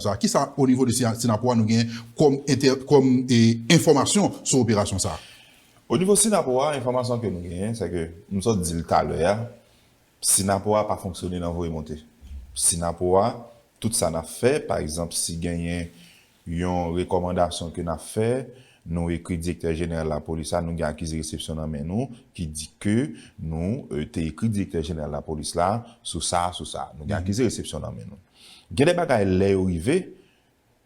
sa. Kisa o nivo de Synapoha nou gen kòm kòm enfòmasyon sou operasyon sa? O nivo Synapoha enfòmasyon ke nou genyen se ke m sot di l talè a Synapoha pa fonksyone nan voye monte. Synapoha tout sa nap fè pa egzanp si genyen yon rekòmandasyon ke nap fè nou ekri direktè jeneral lapolis la nou gen akize resepsyon nan men nou ki di ke nou te ekri direktè jeneral lapolis la sou sa sou sa nou gen akize resepsyon nan men nou. Gen de bagay lè yo rive,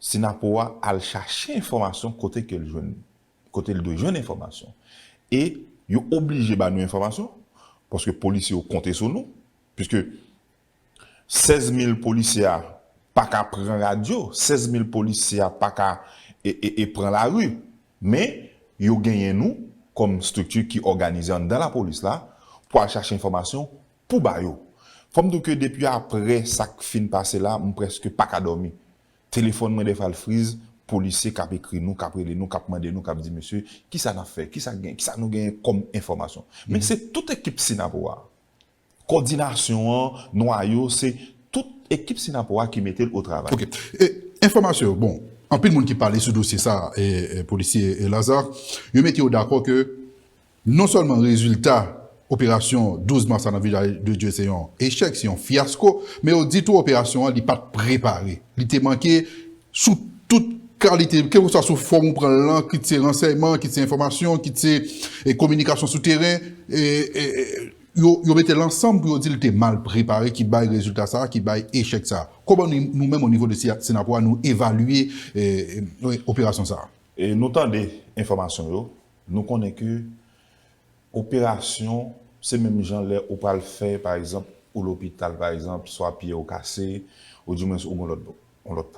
Synapoha a al chache enfòmasyon kote ke l jwenn li, kote l dwe jwenn enfòmasyon. E yo oblije ba nou enfòmasyon, paske polisye yo konte sou nou, piske 16 mil polisye a pa ka pran radyo, 16 mil polisye a pa ka e pran lari. Men, yo genyen nou kòm estrikti ki òganize anndan lapolis la pou al chache enfòmasyon. Pou ba yo. Fò m di w ke depi aprè sa k fin pase la, m prèske pa ka dòmi. Telefòn mwen dèfwa l friz, polisye k ap ekri nou, k ap rele nou, k ap mande nou, k ap di mesye, ki sa n ap fè? Ki sa k gen? Ki sa nou genyen kòm enfòmasyon? Men se tout ekip Synapoha a. Kòdinasyon an, nwayo, se tout ekip Synapoha a ki mete l otravay. Ok. E enfòmasyon yo? Bon, anpil moun ki pale sou dosye sa a, polisye Lazarre, yo mete yo dakò ke Non sèlman rezilta operasyon 12 mas la nan Village de Dieu se yon echèk, se yon fyasko, men yo di tou operasyon an li pa t prepare, li te manke sou tout kalite, kèlkeswa sou fòm ou pran l lan, kit se ransèyman, kit se enfòmasyon, kit se kominikasyon sou teren, yo mete l ansanm pou yo di l te mal prepare ki bay rezilta sa a, ki bay echèk sa a. Kòman nou menm onivo de Synapoha nou evalye operasyon sa a? Nou tande enfòmasyon yo, Nou konnen ke operasyon se menm jan lè ou pral fè pa egzanp ou lopital pa egzanp swa pye ou kase ou di mwens ou gen yon lòt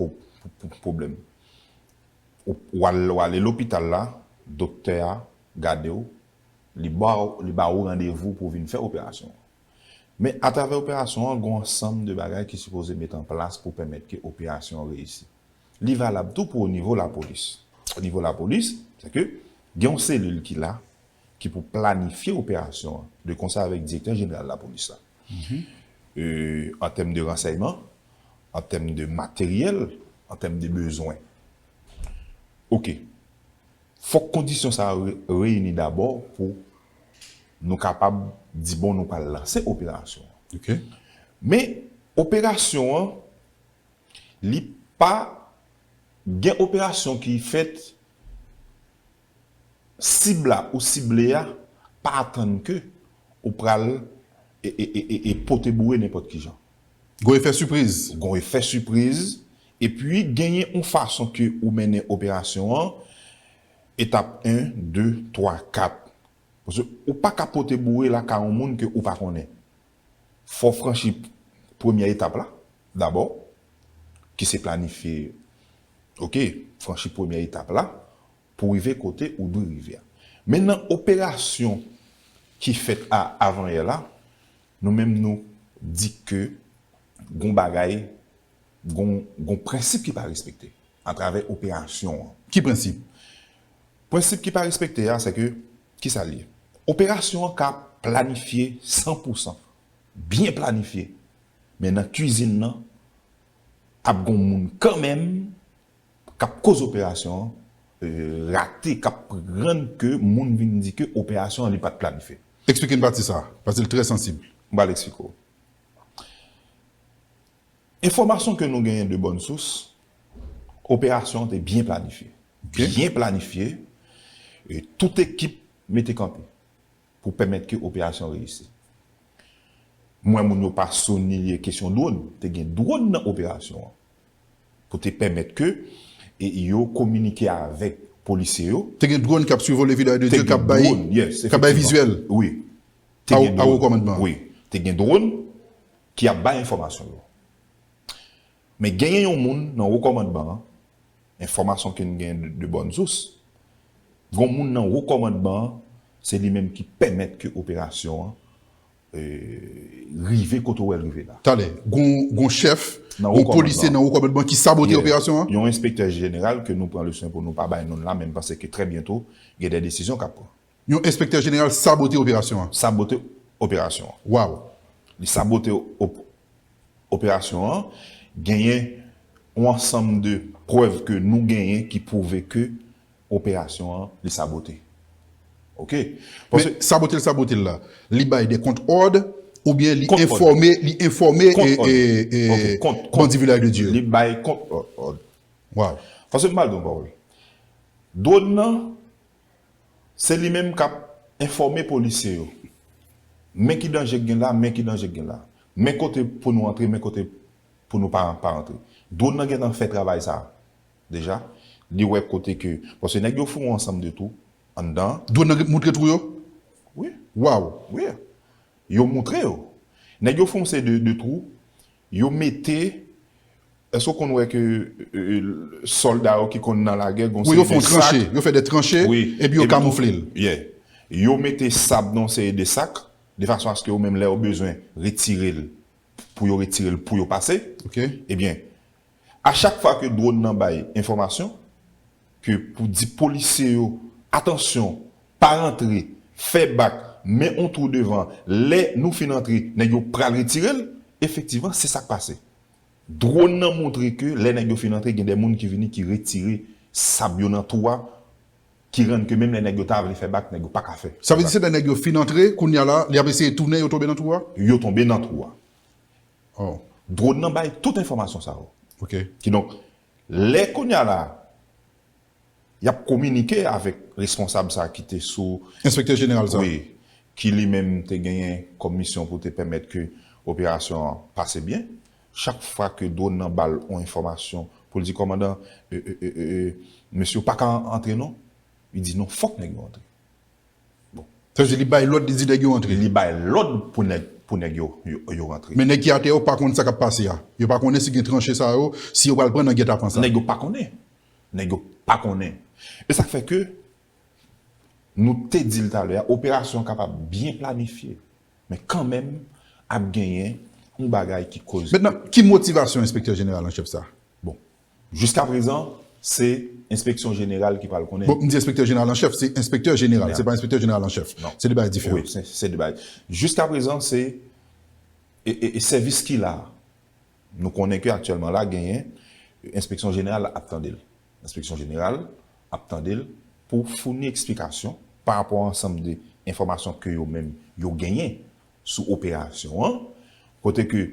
pwoblèm ou ale lopital la doktè a gade ou li ba ou randevou pou vin fè operasyon an men atravè operasyon an gen yon ansanm de bagay ki sipoze met an plas pou pèmèt ke operasyon an reyisi. Li valab tou pou onivo lapolis. Onivo lapolis, se ke gen yon selil ki la, ki pou planifye operasyon an, de konsa avèk direktè jeneral lapolis la. An tèm de ransèyman, an tèm de materyèl, an tèm de bezwen. Ok. Fòk kondisyon sa yo reyini dabò pou nou kapab di bon nou pral lanse operasyon an. Ok. Men, operasyon an, Li pa Gen operasyon ki fèt sib la ou sible a pa atann ke ou pral pote boure nenpòt kijan. Gon efè sipriz. Gon efè sipriz epi genyen yon fason ke ou mennen operasyon an, etap 1, 2, 3, 4. Paske ou pa ka pote boure lakay yon moun ke ou pa konnen. Fò w franchi premyè etap la dabò, ki se planifye ok, franchi premyè etap la pou w rive kote ou dwe rive a. Men nan operasyon ki fèt a avanyè la, nou menm nou di ke gon bagay, gon prensip ki pa respekte atravè operasyon an. Ki prensip? Prensip ki pa respekte a sèke kisa l ye? Operasyon an ka planifye san pou san, byen planifye, men nan kuizin nan ap gon moun kanmenm kap koz operasyon an rate, kap rann ke moun vin di ke operasyon an li pat planifye. Eksplike n pati sa a, paske l trè sansib. M pral eksplike w. Enfòmasyon ke nou genyen de bòn sous, operasyon an te byen planifye. Byen planifye, e tout ekip mete kanpe pou pèmèt ke operasyon reyisi. M wè moun yo pa souliye kesyon dwòn, te gen dwòn nan operasyon an pou te pèmèt ke yo kominike avèk polisye yo. Te gen dwòn kap sivole Vidal de Dieu kap bay vizyèl a wo kòmandman an. Te gen dwòn. ki ap bay enfòmasyon yo men genyen yon moun nan wo kòmandman an enfòmasyon ke n genyen de bòn sous gon moun nan wo kòmandman an se li menm ki pèmèt ke operasyon an rive kote w wè l rive la. Talè gon chèf gon polisye nan wo kòmandman ki sabote operasyon an? Yon enspektè jeneral ke nou pran leswen pou nou pa bay non l la men m panse ke trè byento gen de desizyon k ap pran. Yon enspektè jeneral sabote operasyon an. Sabote operasyon an. Waww. Li sabote operasyon an. Genyen yon ansanm de prèv ke nou genyen ki pwouve ke operasyon an li sabote. Ok. Men sabote l sabote l la, li bay de kont òd oubyen li enfòme, li enfòme bandi Vilaj de Dye yo? Li bay kont òd. Waww. Pase m ba l yon pawòl. Dwòn nan Se li menm k ap enfòme polisye yo. Men ki danje k gen la, men ki danje k gen la. Men kote pou nou antre, men kote pou nou pa antre. Dwon nan gentan fè travay sa a deja. Li wè kote ke, paske nèg yo fou yon ansanm de twou anndan an. Dwon nan moutre twou yo? Wi. Waww! Wi. Yo moutre yo. Nèg yo fè yon seri de twou. Yo mete, èske ou konn wè ke sòlda yo ki konn nan lagè gon seri de sak. Wi yo fon tranche, yo fè de tranche, epi yo kamoufle l. Yeah. Yo mete sab nan yon seri de sak, de fason aske yo menm lè yo bezwen retire l, pou yo retire l pou yo pase. Ok. Ebyen. A chak fwa ke dwòn nan bay enfòmasyon, ke pou di polisye yo, atansyon, pa rantre, fè bak, men on twou devan, lè nou fin antre, nèg yo pral retire l, efektivman, se sa k pase. Dwòn nan montre ke lè nèg yo fin antre, gen de moun ki vini ki retire sab yo nan twou a, ki rann ke menm lè nèg yo ta vle fè bak, nèg yo pa ka fè. Sa vle di se lè nèg yo fin antre, kounye a la, li ap eseye tounen, yo tonbe nan twou a? Yo tonbe nan twou a. Drone nan bay tout enfòmasyon sa yo. Kidonk, lè kounye a la a, y ap kominike avèk responsab sa a ki te sou. Enspektè jeneral sa a. Wi. Ki li menm te genyen kòm misyon pou te pèmèt ke operasyon an pase byen. Chak fwa ke drone nan ba l yon enfòmasyon pou l di kòmandan, mesye ou pa ka antre non. Li di non fòk nèg yo antre. Bon. Sa vle di li bay lòd li di nèg yo antre. Li bay lòd pou nèg pou nèg yo yo rantre. Men nèg ki atè yo pa konn sa kap pase a. Yo pa konnen si gen tranche sa yo, si yo pral pran nan gètapan sa. Nèg yo pa konnen. Nèg yo pa konnen. E sak fè ke nou te dil talè a operasyon an kapab byen planifye. Men kanmenm ap genyen yon bagay ki koz. Mentnan ki motivasyon enspektè jeneral an chèf sa? Bon. Jiska prezan, se enspeksyon jeneral ki pral konnen. Bon, m di enspektè jeneral an chèf, se enspektè jeneral, se pa enspektè jeneral an chèf. Se 2 bagay diferan. Wi, se 2 bagay. Jiska prezan, se sèvis ki la a. Nou konnen ke aktyèlman la genyen enspeksyon jeneral ap tande l. Enspeksyon jeneral ap tande l pou founi eksplikasyon pa rapò a ansanm de enfòmasyon ke yo menm yo genyen sou operasyon an, kote ke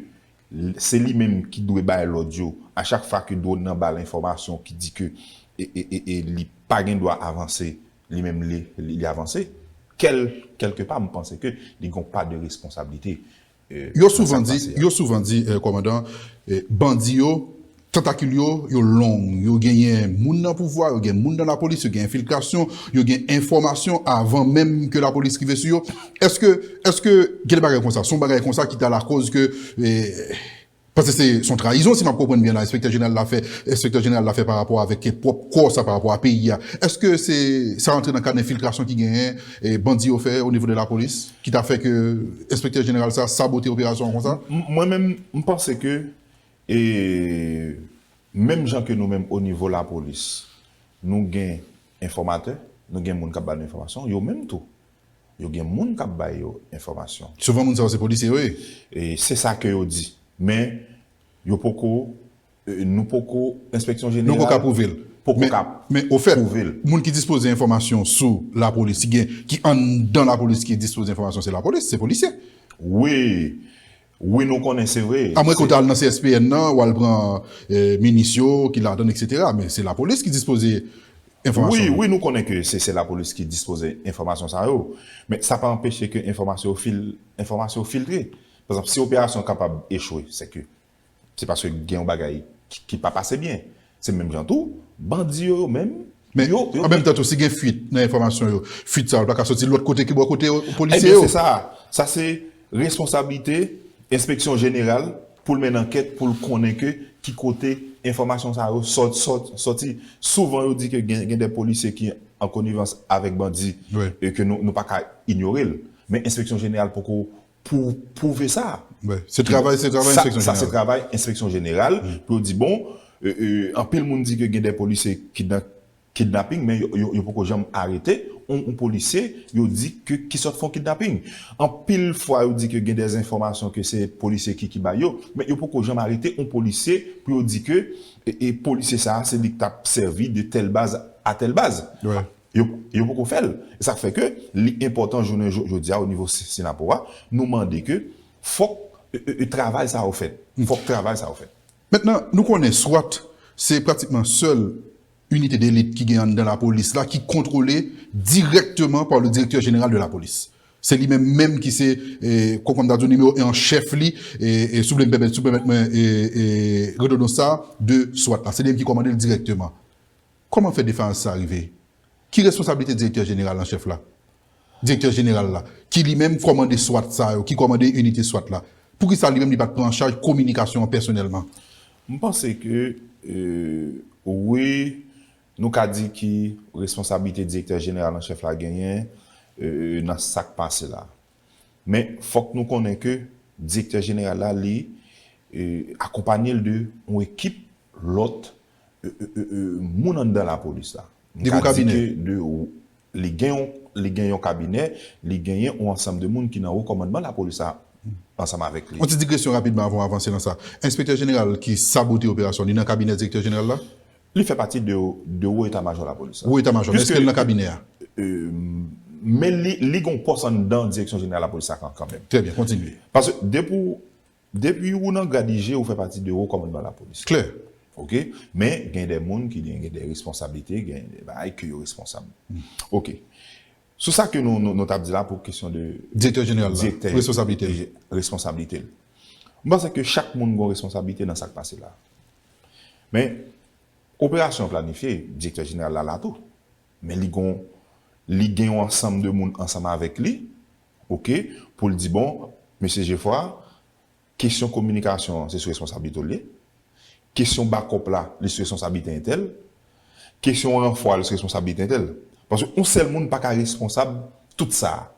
se li menm ki dwe bay lòd yo a chak fwa ke dwòn nan bal enfòmasyon ki di ke li pa gen dwa avanse, li menm li avanse, kèlke pa m panse ke li gen yon pa de responsablite nan sa k pase a. Yo souvan di, kòmandan, bandi yo Tantakil yo, yo long. Yo genyen moun nan pouvwa, yo gen moun nan lapolis, yo gen enfiltrasyon, yo gen enfòmasyon avan menm ke lapolis rive sou yo. Eske, eske gen de bagay konsa? Son bagay konsa ki ta lakòz ke, paske se son trayizon si map konprann byen la enspektè jeneral la fè, enspektè jeneral la fè pa rapò avèk pwòp kò sa, pa rapò a peyi a. Eske se sa rantre nan kad enfiltrasyon ki genyen bandi yo fè onivo de lapolis ki ta fè ke enspektè jeneral sa sabote operasyon an konsa? Mwen menm, m panse ke. E menm jan ke nou menm o nivo lapolis, nou gen enfòmatè, nou gen moun k ap ba nou enfòmasyon, yo menm tou, yo gen moun k ap ba yo enfòmasyon. Souvan moun sa yo se polisye yo ye? E se sa ke yo di. Men, yo poko, nou poko, enspeksyon jeneral. Nou poko apwouve l. Poko ka pwouve l. Men, ofèt, moun ki dispoze enfòmasyon sou lapolis, ki gen, ki anndan lapolis ki dispoze enfòmasyon se lapolis, se polisye. Wi. Wi nou konnen se vre. A mwen ke w ta al nan CSPN nan w al pran minis yo ki ladan l eksetera men se lapolis ki dispoze enfòmasyon yo. Wi wi nou konnen ke se se lapolis ki dispoze enfòmasyon sa yo men sa pa anpeche ke enfòmasyon yo fil enfòmasyon yo filtre pa egzanp si operasyon kapab echwe se ke se paske gen yon bagay ki pa pase byen Se menm jan tou, bandi yo yo menm, Men, yo, yo. an menm tan tou, si gen fuit nan enfòmasyon yo, fuit sa yo pa ka soti lòt kote ki bò kote yo, polisye yo? Ebyen se sa a. Sa se responsablite enspeksyon jeneral pou l menn ankèt pou l konnen ke ki kote enfòmasyon sa yo sò, sò, sòti. Souvan yo di ke gen, gen dè polisye ki an konivans avèk bandi, e ke nou, nou pa ka inyore l. Men enspeksyon jeneral poko pou pwouve sa. Se travay enspeksyon jeneral. Sa se travay enspeksyon jeneral pou yo di bon, anpil moun di ke gen de polisye ki nan kidnaping men yo poko janm arete yon polisye yo di ke ki sot fon kidnaping. Anpil fwa yo di ke gen de enfòmasyon ke se polisye ki bay yo, men yo poko janm arete yon polisye pou yo di ke polisye sa se li ki tap sèvi de tèl baz a tèl baz. Yo poko fè l. E sa k fè ke li enpòtan jounen jodi a o nivo Synapoh a, nou mande ke fòk travay sa yo fèt. Fòk travay sa yo fèt. Mentnan, nou konnen swat se pratikman sèl inite delit ki gen anndan lapolis la ki kontwole dirèkteman pa le direktè jeneral de lapolis. Se li menm menm ki se, kòm m ta di w, nimewo 1 an chèf li, si w vle m pèmèt, si w pèmèt mwen redondans sa a, de swat la. Se li menm ki kòmande l dirèkteman. Kòman fè defayans sa rive? Ki responsablite direktè jeneral an chèf la? Direktè jeneral la, ki li menm kòmande swat sa yo, ki kòmande inite swat la, poukisa li menm li pa t pran an chaj kominikasyon an pèsonèlman? M panse ke wi, nou ka di ki responsablite direktè jeneral an chèf la genyen nan sa k pase la. Men, fòk nou konnen ke direktè jeneral la li akonpanye l de yon ekip lòt moun anndan lapolis la. M ka di ke de li gen yon li gen yon kabinè, li genyen yon ansanm de moun ki nan wo kòmandman lapolis la ansanm avèk li. Yon ti digresyon rapidman avan w avanse nan sa. Enspektè jeneral ki sabote operasyon, li nan kabinè direktè jeneral la? Li fè pati de wo eta majò lapolis la. Wo eta majò, men eske li nan kabinè a? Men li gen yon pòs anndan direksyon jeneral lapolis la kanmenm. Trè byen, kontinye. Paske depi w Depi ou nan grad IG ou fè pati de wo kòmandman lapolis. Klè! Ok. Men gen de moun ki gen gen de responsablite, gen de bagay ke yo responsab. Ok. Sou sa ke nou nou tap di la pou kesyon de. Direktè jeneral la. Direktè. Responsablite l. Responsablite l. M panse ke chak moun gon responsablite nan sak pase la. Men, operasyon an planifye, direktè jeneral la la tou. Men li gon, li gen yon ansanm de moun ansanm avèk li Ok poul di bon mesye jefwa kesyon kominikasyon an se sou responsablite w li ye kesyon bakòp la li sou responsablite entèl kesyon ranfò a li sou responsablite entèl paske yon sèl moun paka responsab tout sa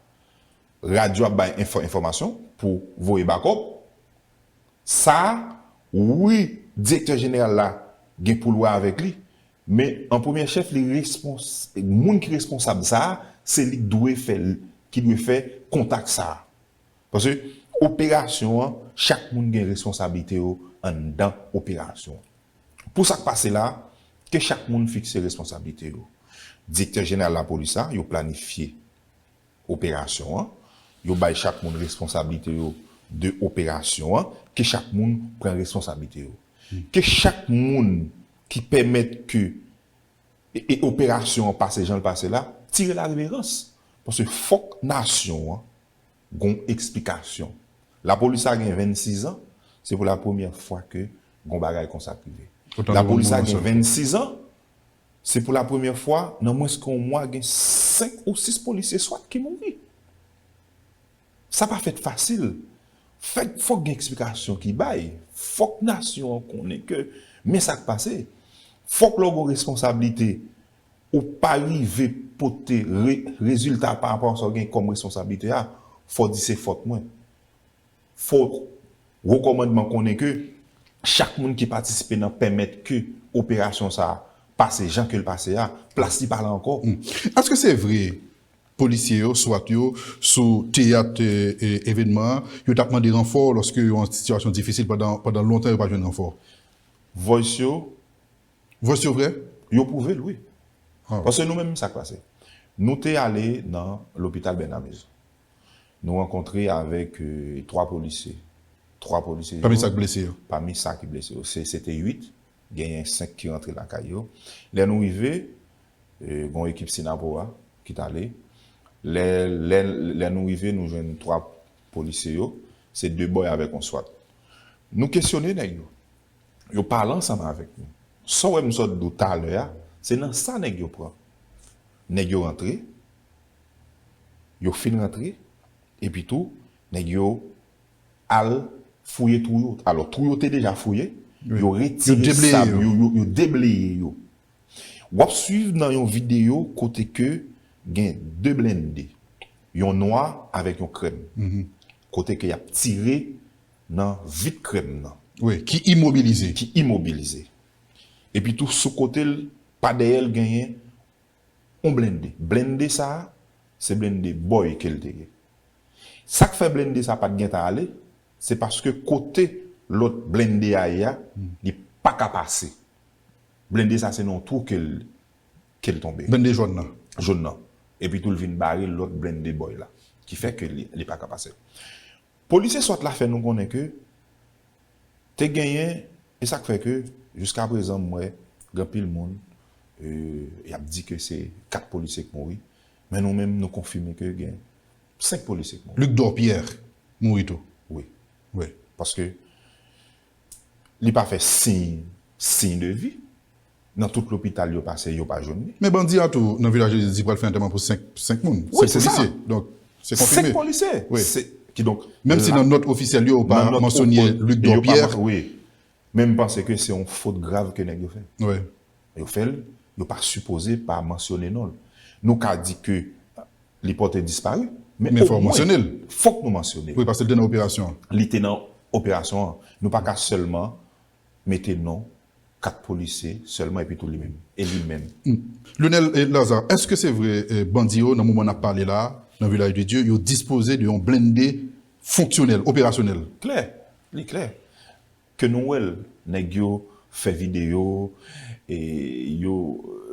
radyo ap bay enfòmasyon pou voye bakòp sa wi direktè jeneral la gen poul wè avèk li Men, an premyè chèf, li respons, moun ki responsab sa a, se li k dwe fè, ki dwe fè kontak sa a. Paske, operasyon an, chak moun gen responsablite yo anndan operasyon an. Pou sa k pase la a, ke chak moun fikse responsablite yo. Direktè jeneral lapolis la, yo planifye operasyon an, yo bay chak moun responsablite yo de operasyon an, ke chak moun pran responsablite yo. Ke chak moun ki pèmèt ke e operasyon an pase jan l pase la, tire la reverans. Paske fòk nasyon an gon eksplikasyon. Lapolis sa gen 26 an, se pou la premyè fwa ke gon bagay konsa k rive. Lapolis sa gen 26 an, se pou la premyè fwa nan mwens ke yon mwa gen 5 ou 6 polisye swat ki mouri. Sa pa fèt fasil. Fèt fòk gen eksplikasyon ki bay. Fòk nasyon an konnen ke men sa k pase. Fòk lè w gen yon responsablite, ou pa rive pote rezilta pa rapò a sa w gen kòm responsablite a, fò w di se fòt mwen. Fò wo kòmandman konnen ke chak moun ki patisipe nan pèmèt ke operasyon sa a pase jan ke l pase a, plas li pa la ankò. Èske se vre Polisye yo, swat yo, sou teyat evènman an, yo t ap mande ranfò lòske yo an sitiyasyon difisil pandan pandan lontan yo pa jwenn ranfò. Voice yo. Voice yo vrè? Yo pwouve l wi. Paske nou menm sa k pase? Nou te ale nan lopital Bernamez. Nou rankontre avèk 3 polisye. 3 polisye yo. Pami sa k blese yo? Pami sa ki blese yo. Se te 8 Genyen 5 ki rantre lakay yo. Lè nou rive, gen yon ekip Synapoha ki t ale. Lè nou rive, nou jwenn 3 polisye yo. Se 2 bòy avèk yon swat. Nou kesyone nèg yo. Yo pale ansanm avèk nou. Sa w wè m sot di w talè a, se nan sa nèg yo pran. Nèg yo rantre, yo fin rantre, epitou nèg yo al fouye twou yo. Alò, twou yo te deja fouye, yo retire sab yo, yo debleye yo. W ap swiv nan yon videyo kote ke gen 2 blende, yon nwa avèk yon krèm, kote ke y ap tire nan vit krèm nan. Wi, ki imobilize. Ki imobilize. Epitou sou kote l, pa dèyè l genyen. On blende. Blende sa a, se blende boy ke l te ye. Sa k fè blende sa a pa t gentan ale, se paske kote lòt blende a ye a, li pa ka pase. Blende sa a se nan yon twou ke l ke l tonbe. Blende jòn nan. Jòn nan. Epitou l vin bare lòt blende boy la. Ki fè ke li pa ka pase. Polisye swat la fè nou konnen ke te genyen, e sak fè ke jiska prezan m wè gen anpil moun yap di ke se 4 polisye k mouri, men nou menm nou konfime ke gen 5 polisye k mouri. Luc Dorpierre mouri tou? Wi. Wi. Paske. Li pa fè siy siy de vi. Nan tout lopital yo pase yo pa jwenn li. Men bandi a tou nan vilaj jezi di pral fè antèman pou 5 moun. Se polisye. Donk se konfime. 5 polisye. Wi. Ki donk. Menm si nan nòt ofisyèl yo yo pa mansyone Luc Dorpierre. Wi. Men m panse ke se yon fot grav ke nèg yo fè. Wi. Lè yo fè l, yo pa sipoze pa mansyone non l. Nou ka di ke li pòte dispari, men omwen fòk nou mansyone l. Wi, paske li te nan operasyon an. Li te nan operasyon an. Nou pa ka sèlman mete non 4 polisye sèlman epi tou li menm. E li menm. Lyonel Lazarre, èske se vre bandi yo nan moman n ap pale la a, nan Vilaj de Dye, yo dispoze de yon blennde fonksyonèl, operasyonèl? Klè. Li klè. Ke nou wèl nèg yo fè video e yo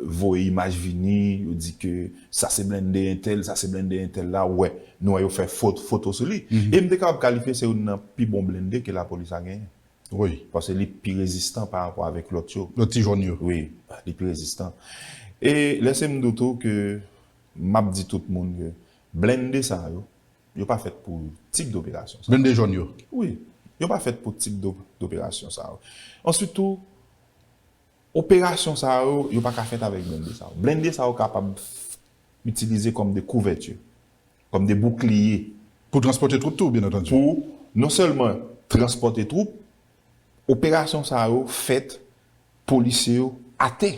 voye imaj vini yo di ke sa se blende entèl sa se blende entèl la wè nou wè yo fè foto sou li e m te kapab kalifye se youn nan pi bon blende ke lapolis la genyen wi paske li pi rezistan pa rapò avèk lòt yo lòt ti jòn yo wi li pi rezistan e lèse m di w tou ke m ap di tout moun ke blende sa yo. Yo pa fèt pou tip doperasyon sa yo. Blende jòn yo? Wi. Yo pa fèt pou tip doperasyon sa yo. Answit tou, operasyon sa yo, yo pa ka fèt avèk blende sa yo. Blende sa yo kapab itilize kòm de kouvèti, kòm de boukliye. Pou transpòte twoup tou, byen antandi. Pou non sèlman transpòte twoup, operasyon sa yo fèt polisye yo atè.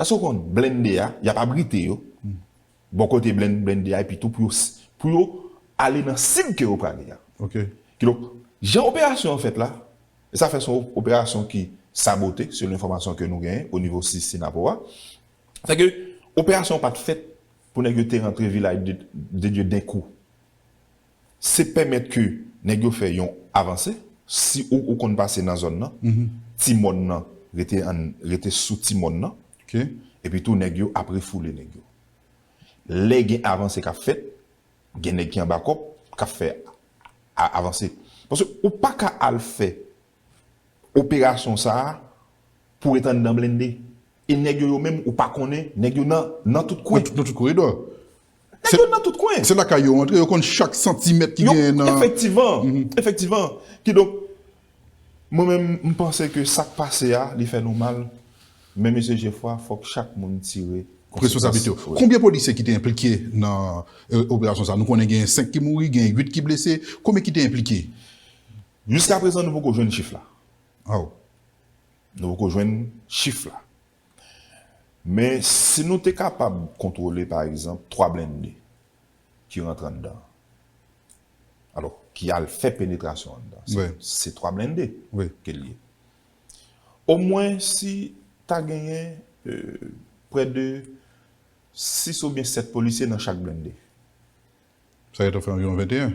Èske ou konn blende a, y ap abrite yo, Bon kote blende a epi tou pou yo ale nan sib ke yo prale a. Kidonk, jan operasyon an fèt la, e sa fè son operasyon ki sabote selon enfòmasyon ke nou genyen o nivo sis Sinapo a, se ke operasyon an pat fèt pou nèg yo te rantre Vilaj de Dye denkou. se pèmèt ke nèg yo fè yon avanse, si ou konn pase nan zòn nan, ti mòn nan rete an, rete sou ti mòn nan, epi tou nèg yo ap refoule nèg yo. Lè gen avanse k ap fèt, gen nèg ki anba kòb k ap fè avanse. Paske ou pa ka al fè Operasyon sa a pou ret anndan blende. E nèg yo yo menm ou pa konnen, nèg yo nan nan tout kwen. Nan tout koridò. Nèg yo nan tout kwen. Se lakay yo antre, yo konn chak santimèt ki genyen nan. Efektivan, efektivan. Kidonk, mwen menm m panse ke sa k pase a, li fè nou mal. Men mesye Jefwa, fòk chak moun tire konsekans. Responsablite yo. Konbyen polisye ki te enplike nan operasyon sa a? Nou konnen genyen 5 ki mouri, genyen 8 ki blese. Konbyen ki te enplike? Jiska prezan nou poko jwenn chif la. Aw. Nou poko jwenn chif la. Men si nou te kapab kontwole pa egzanp 3 blende ki rantre anndan an. Alò, ki al fè penetrasyon anndan. Se 3 blende ke li ye. Omwen si ta genyen prè de 6 oubyen 7 polisye nan chak blende. Sa gen ta fè anviwon 21.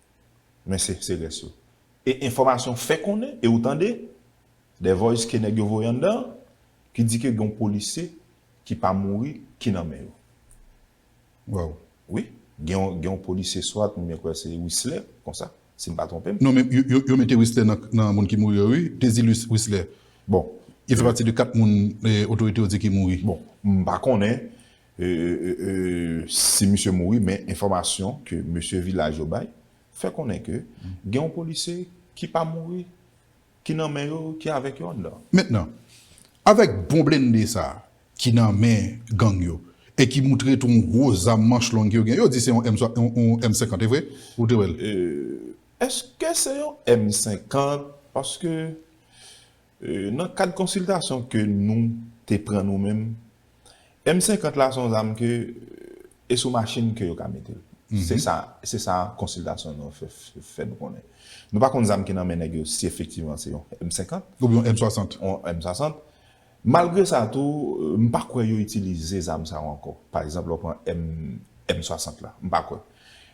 Men se se rès yo. E enfòmasyon fè konnen e ou tande dè voice ke nèg yo voye anndan an ki di ke gen yon polisye ki pa mouri ki nan men yo. Waw. Wi. Gen yon gen yon polisye swat mwen kwè se Wisler konsa si m pa twonpe m. Non men yo yo yo mete Wisler nan nan moun ki mouri yo wi. Désilus Wisler. Bon. Li fè pati de 4 moun otorite yo di ki mouri. Bon. M pa konnen. si misye mouri men enfòmasyon ke mesye vilaj yo bay fè konnen ke gen yon polisye ki pa mouri ki nan men yo ki avèk yo anndan. Mentnan, avèk bon blende sa ki nan men gang yo e ki moutre tou yon gwo zam manch long yo gen, yo di se yon M 50 e vre? Ou te wè l? Eske se yon M 50 paske Nan kad konsiltasyon ke nou te pran nou menm, M 50 la se yon zam ke e sou machin ke yo ka mete l. Se sa, se sa konsiltasyon nou yo fè nou konnen. Nou pa konn zam ki nan men nèg yo si efektivman se yon M 50. Oubyen yon M 60. Yon M 60. Malgre sa tou, m pa kwè yo itilize zam sa yo ankò. Pa egzanp lè w pran M 60 la. M pa kwè.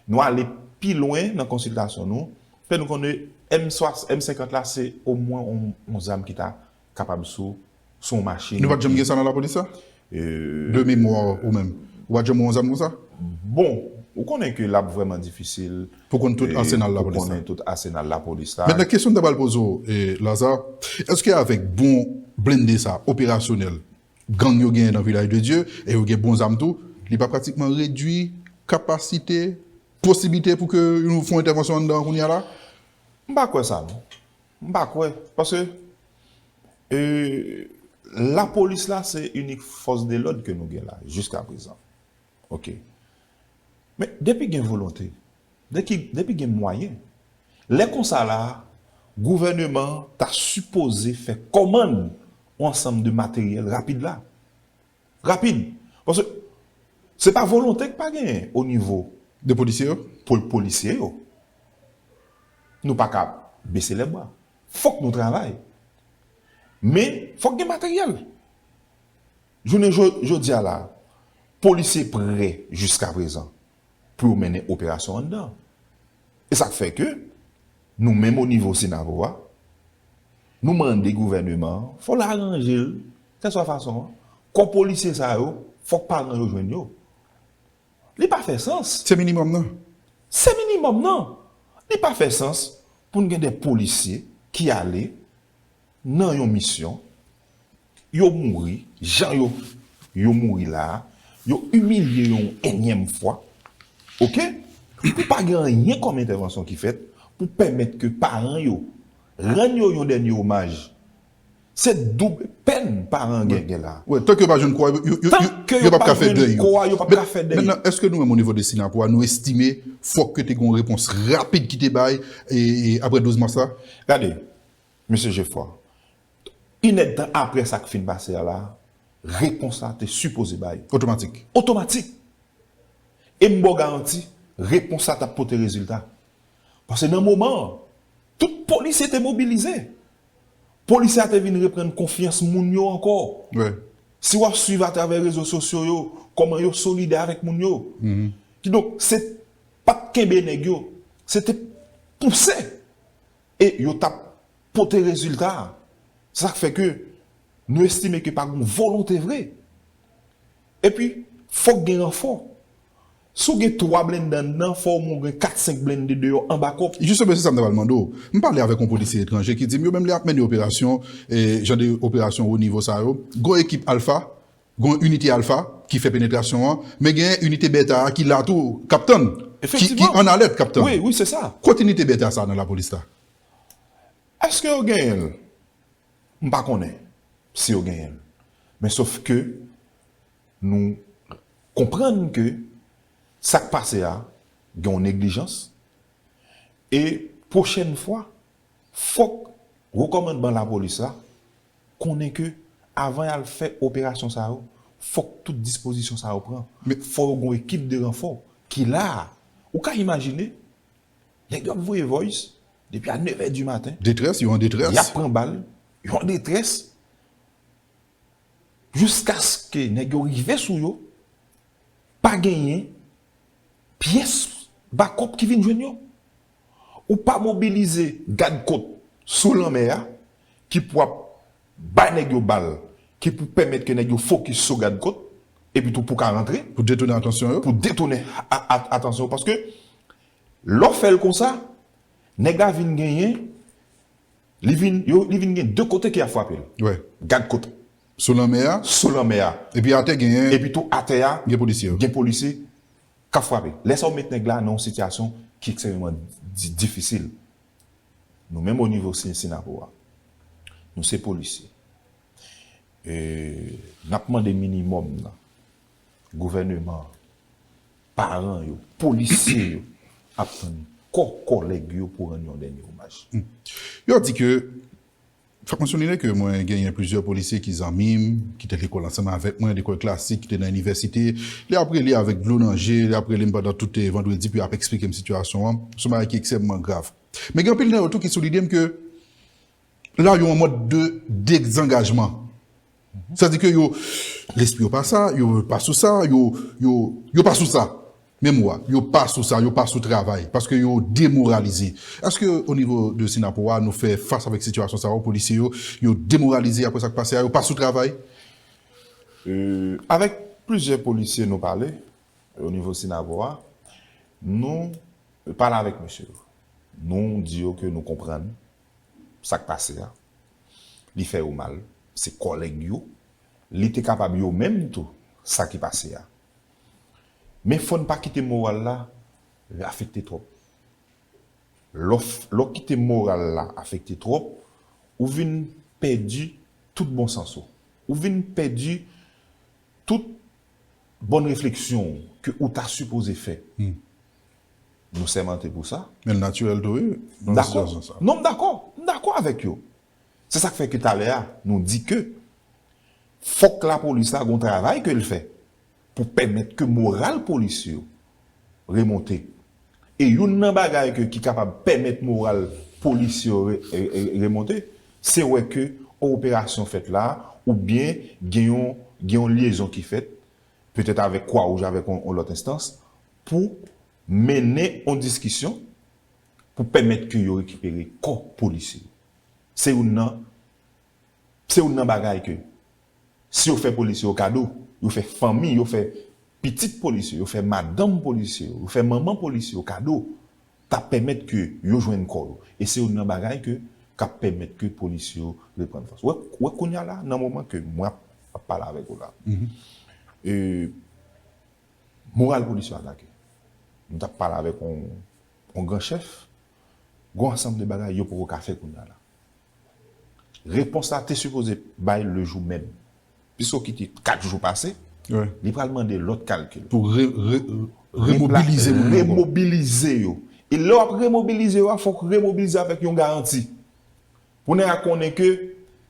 Nou ale pi lwen nan konsiltasyon nou. Fè nou konnen M 50 la se omwen yon zam ki ta kapab sou yon machin. Nou pa t janm gen sa nan lapolis la? De memwa ou menm, ou pa t janm wè yon zam konsa? Bon, ou konnen ke l ap vrèman difisil pou w konn tout asenal lapolis la. Mètnen kesyon m ta pral poze w Lazare, èske avèk bon blende sa operasyonèl gang yo genyen nan Vilaj de Dye e yo gen bon zam tou, li pa pratikman redwi kapasite posiblite pou ke yon fon entèvansyon anndan an kounya la? M pa kwè sa non. M pa kwè. Paske e lapolis la se inik fòs de lòd ke nou gen la jiska prezan. Ok. Men depi gen volonte, depi gen mwayen, lè konsa la a gouvèneman an ta sipoze fè kòmann yon ansanm de materyèl rapid la. Rapid, paske se pa volonte ki pa genyen o nivo de polisye yo, pou polisye yo. Nou pa ka bese lè bwa. Fòk nou travay. Men, fòk gen materyèl. Jounen jodi a la, polisye prè jiska prezan. pou yo mennen operasyon anndan. E sa k fè ke nou menm o nivo Senavo a, nou mande gouvèneman an, fò l aranje l, kèlswa fason an, kò polisye sa yo, fòk paran yo jwenn yo. Li pa fè sans. Se minimòm nan. Se minimòm nan. Li pa fè sans pou n gen de polisye ki ale. nan yon misyon yo mouri jan yo yo mouri la a yo imilye yo yon enyèm fwa ok epi pa gen anyen kòm entèvansyon ki fèt pou pèmèt ke paran yo rann yo yon dènye omaj se doub pèn paran gen gen la a tank yo pa jwenn kò a yo pap ka fè dèy yo mètnan èske nou menm o nivo de synapo a nou estime fòk ke te gen yon repons rapid ki te bay aprè 12 mas la gade Mesye Jefò, inèdtan apre sa k fin pase a la, repons la te sipoze bay. Otomatik. Otomatik! E m ba w garanti, repons la t ap pote rezilta. Pase nan moman an, tout polisye te mobilize. Polisye a te vin reprann konfyans moun yo ankò. Si w ap suiv atravè rezo sosyo yo, kòman yo solidè avèk moun yo. Kidonk, se pa t kenbe nèg yo, se te pouse E yo tap pote rezilta. Se sak fè ke nou estime ke pa gon volonte vre. E pi, fok gen ranfò. Si w gen 3 blende anndan, fò w mwen gen 4, 5 blende deyò an bakop. Jistemen se sa m ta pral mande w. M pale avèk yon polisye etranje ki di m yo menm lè yap mennen operasyon, jan de operasyon wo nivo sa yo, gon ekip Alfa Gon inite alfa ki fè penetrasyon an, men gen inite beta a ki la tou kap tann, ki an alèt kap tann. Kot inite beta sa nan lapolis la? Eske yo genyen l? M pa konnen si yo genyen l. Men sof ke nou konprann ke sak pase a gen yon neglijans e pwochèn fwa fok wo kòmandman lapolis la konnen ke avan y al fè operasyon sa yo, fòk tout dispozisyon sa yo pran, fò yo gen yon ekip de ranfò ki la a. Ou ka imajine, nèg yo ap voye voice depi a nevè di maten. Detrès, yo an detrès. Y ap pran bal, yo an detrès, jiskaske nèg yo rive sou yo, pa genyen pyès bakòp ki vin jwenn yo. Ou pa mobilize gad kot sou lanmè a ki pou ap bay nèg yo bal ki pou pèmèt ke nèg yo fokis sou gad kot epi tou pou ka rantre. Pou detounen atansyon yo. Pou detounen atansyon yo paske lè w fè l konsa nèg la vin genyen li vin yo li vin gen 2 kote ke y ap frape l. Wi. Gad kot. Sou lanmè a. Sou lanmè a. Epi atè genyen. Epi tou atè a. Gen polisye yo. Gen polisye. Kap frape. Lè sa ou met nèg la nan yon sitiyasyon ki ekstrèmeman difisil. Nou menm onivo Cincinnapo a, nou se polisye. N ap mande minimòm nan gouvèneman an, paran yo, polisye yo ap tann kò kòlèg yo pou rann yon dènye omaj. Yo di ke. Fòk mwen souliyen ke mwen genyen plizyè polisye ki zanmi'm, ki te lekòl ansanm avèk mwen, lekòl klasik, ki te nan inivèsite. Yo ap rele avèk dlo nan je, yo ap rele'm pandan tout vandredi pou yo ap eksplike'm sitiyasyon an. Son bagay ki ekstrèmman grav. Men gen anpil nan yo tou ki souline'm ke la yo an mòd de dezangajman. Sa di ke yo, lespri yo pa sa, yo pa sou sa, yo, yo, yo pa sou sa. Menm mo a, yo pa sou sa, yo pa sou travay, paske yo demoralize. Eske o nivo de Sinapo a nou fè fas avèk sitiyasyon sa yo, polisye yo, yo demoralize apre sa k pase a, yo pa sou travay? Avèk plizyè polisye nou pale, o nivo Sinapo a, nou pale avèk mesye yo. Nou di yo ke nou konprann sak pase a li fè yo mal se kòlèg yo li te kapab yo menm tou sa ki pase a men fòn pa kite moral la afekte twòp lè w kite moral la afekte twòp ou vin pèdi tout bon sans ou ou vin pèdi tout bòn refleksyon ou ke ou ta sipoze fè Nou sèmante pou sa. Men l natirèl tou wi, nan yon sitiyasyon sa. Dakò. Non m dakò. M dakò avèk yo. Se sa k fè ke talè a, nou di ke fòk lapolis la gen yon travay ke l fè pou pèmèt ke moral polisye yo remonte. E youn nan bagay ke ki kapab pèmèt moral polisye yo remonte, se wè ke yon operasyon fèt la a oubyen gen yon, gen yon lyezon ki fèt petèt avèk Kwa Wouj avèk yon lòt enstans, pou mennen yon diskisyon pou pèmèt ke yo rekipere kò polisye yo. Se youn nan, se youn nan bagay ke si yo fè polisye yo kado, yo fè fanmi, yo fè pitit polisye yo, yo fè madanm polisye yo, yo fè manman polisye yo kado, ta pèmèt ke yo jwenn kò yo e se youn nan bagay ke kap pèmèt ke polis yo reprann fòs. Wè wè kounya la nan moman ke mwen ap ap pale avèk ou la e moral polis yo atake. M tap pale avèk on on gran chèf gon ansanm de bagay yo poko ka fè kounya la. Repons la te sipoze bay le jou menm. Piso ki te 4 jou pase, li pral mande lòt kalkil. Pou remobilize moun yo. Remobilize yo. E lè w ap remobilize yo a, fòk ou remobilize avèk yon garanti. Pou nèg la konnen ke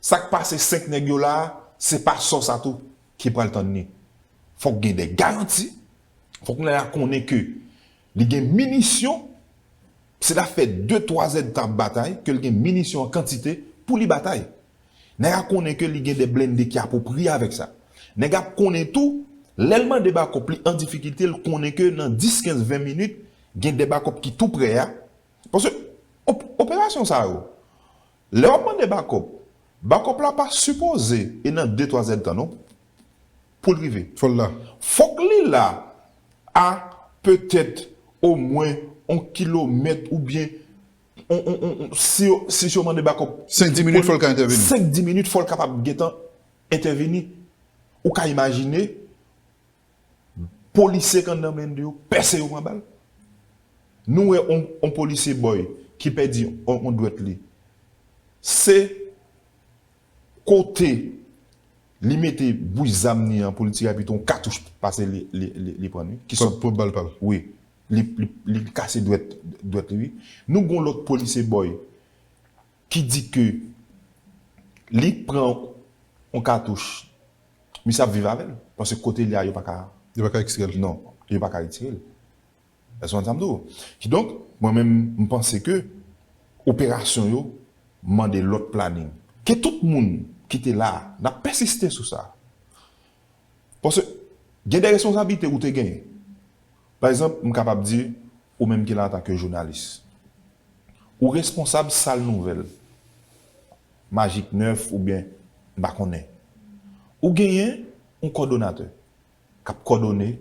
sa k pase 5 nèg yo la a, se pa sò sa tou ki pral tann li. Fòk gen de garanti. Fòk nèg la konnen ke li gen minisyon. Se ta fè 2, 3 èdtan ap batay, ke l gen minisyon an kantite pou li batay. Nèg a konnen ke li gen de blende ki apwopriye avèk sa. Nèg ap konnen tou, lè l mande bakòp li an difikilte l konnen ke nan 10, 15, 20 minit gen de bakòp ki tou prè a. Paske operasyon sa yo, lè wap mande bakòp, bakòp la pa sipoze e nan 2, 3 zèdtan non pou l rive. Fò l la. Fòk li la a petèt omwen on kilomèt oubyen Si yo mande bakòp. 5 di minit fò l ka entèveni. 5 di minit fò l kapab gentan entèveni. Ou ka imajine polisye k anndan blende yo pèse yo pran bal. Nou wè yon polisye bòy ki pèdi yon dwèt li. Se. Kote Li mete bouch zam ni an poul tire pito yon katouch pase Li pran wi ki sòt pran bal pal wi Li kase dwèt dwèt Li wi nou gon lòt police boy ki di ke Li pran yon katouch misye ap viv avèl paske kote Li a yo paka yo paka ekstrèl non yo paka retirel. Èske w konprann sa m di w? Kidonk, mwen menm, m panse ke operasyon yo mande lòt planin. Ke tout moun ki te la a, n ap pèsiste sou sa. Paske, gen de responsablite ou te genyen. Pa egzanp, m kapab di, ou menm ki la antanke jounalis. Ou responsab sal nouvèl, Magik 9 oubyen m pa konnen. Ou genyen yon kòdonatè. k ap kòdone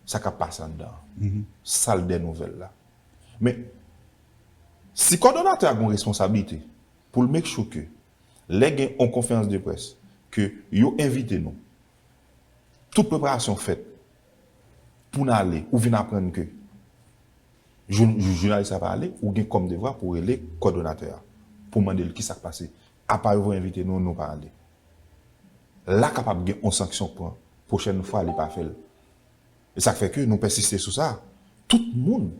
sa k ap pase anndan sal dè nouvèl la. Men, si kòdonatè a gen yon responsablite pou l make sure ke lè gen yon konferans de près ke yo envite nou, tout preparasyon fèt pou n ale, ou vin aprann ke jounalis la pa ale, ou gen kòm devwa pou rele kòdonatè a pou mande l ki sa k pase Apa yo voye envite nou nou pa ale. La kapab gen on sanksyon k pran pwochèn fwa li pa fèl. E sak fè ke nou pèsiste sou sa, tout moun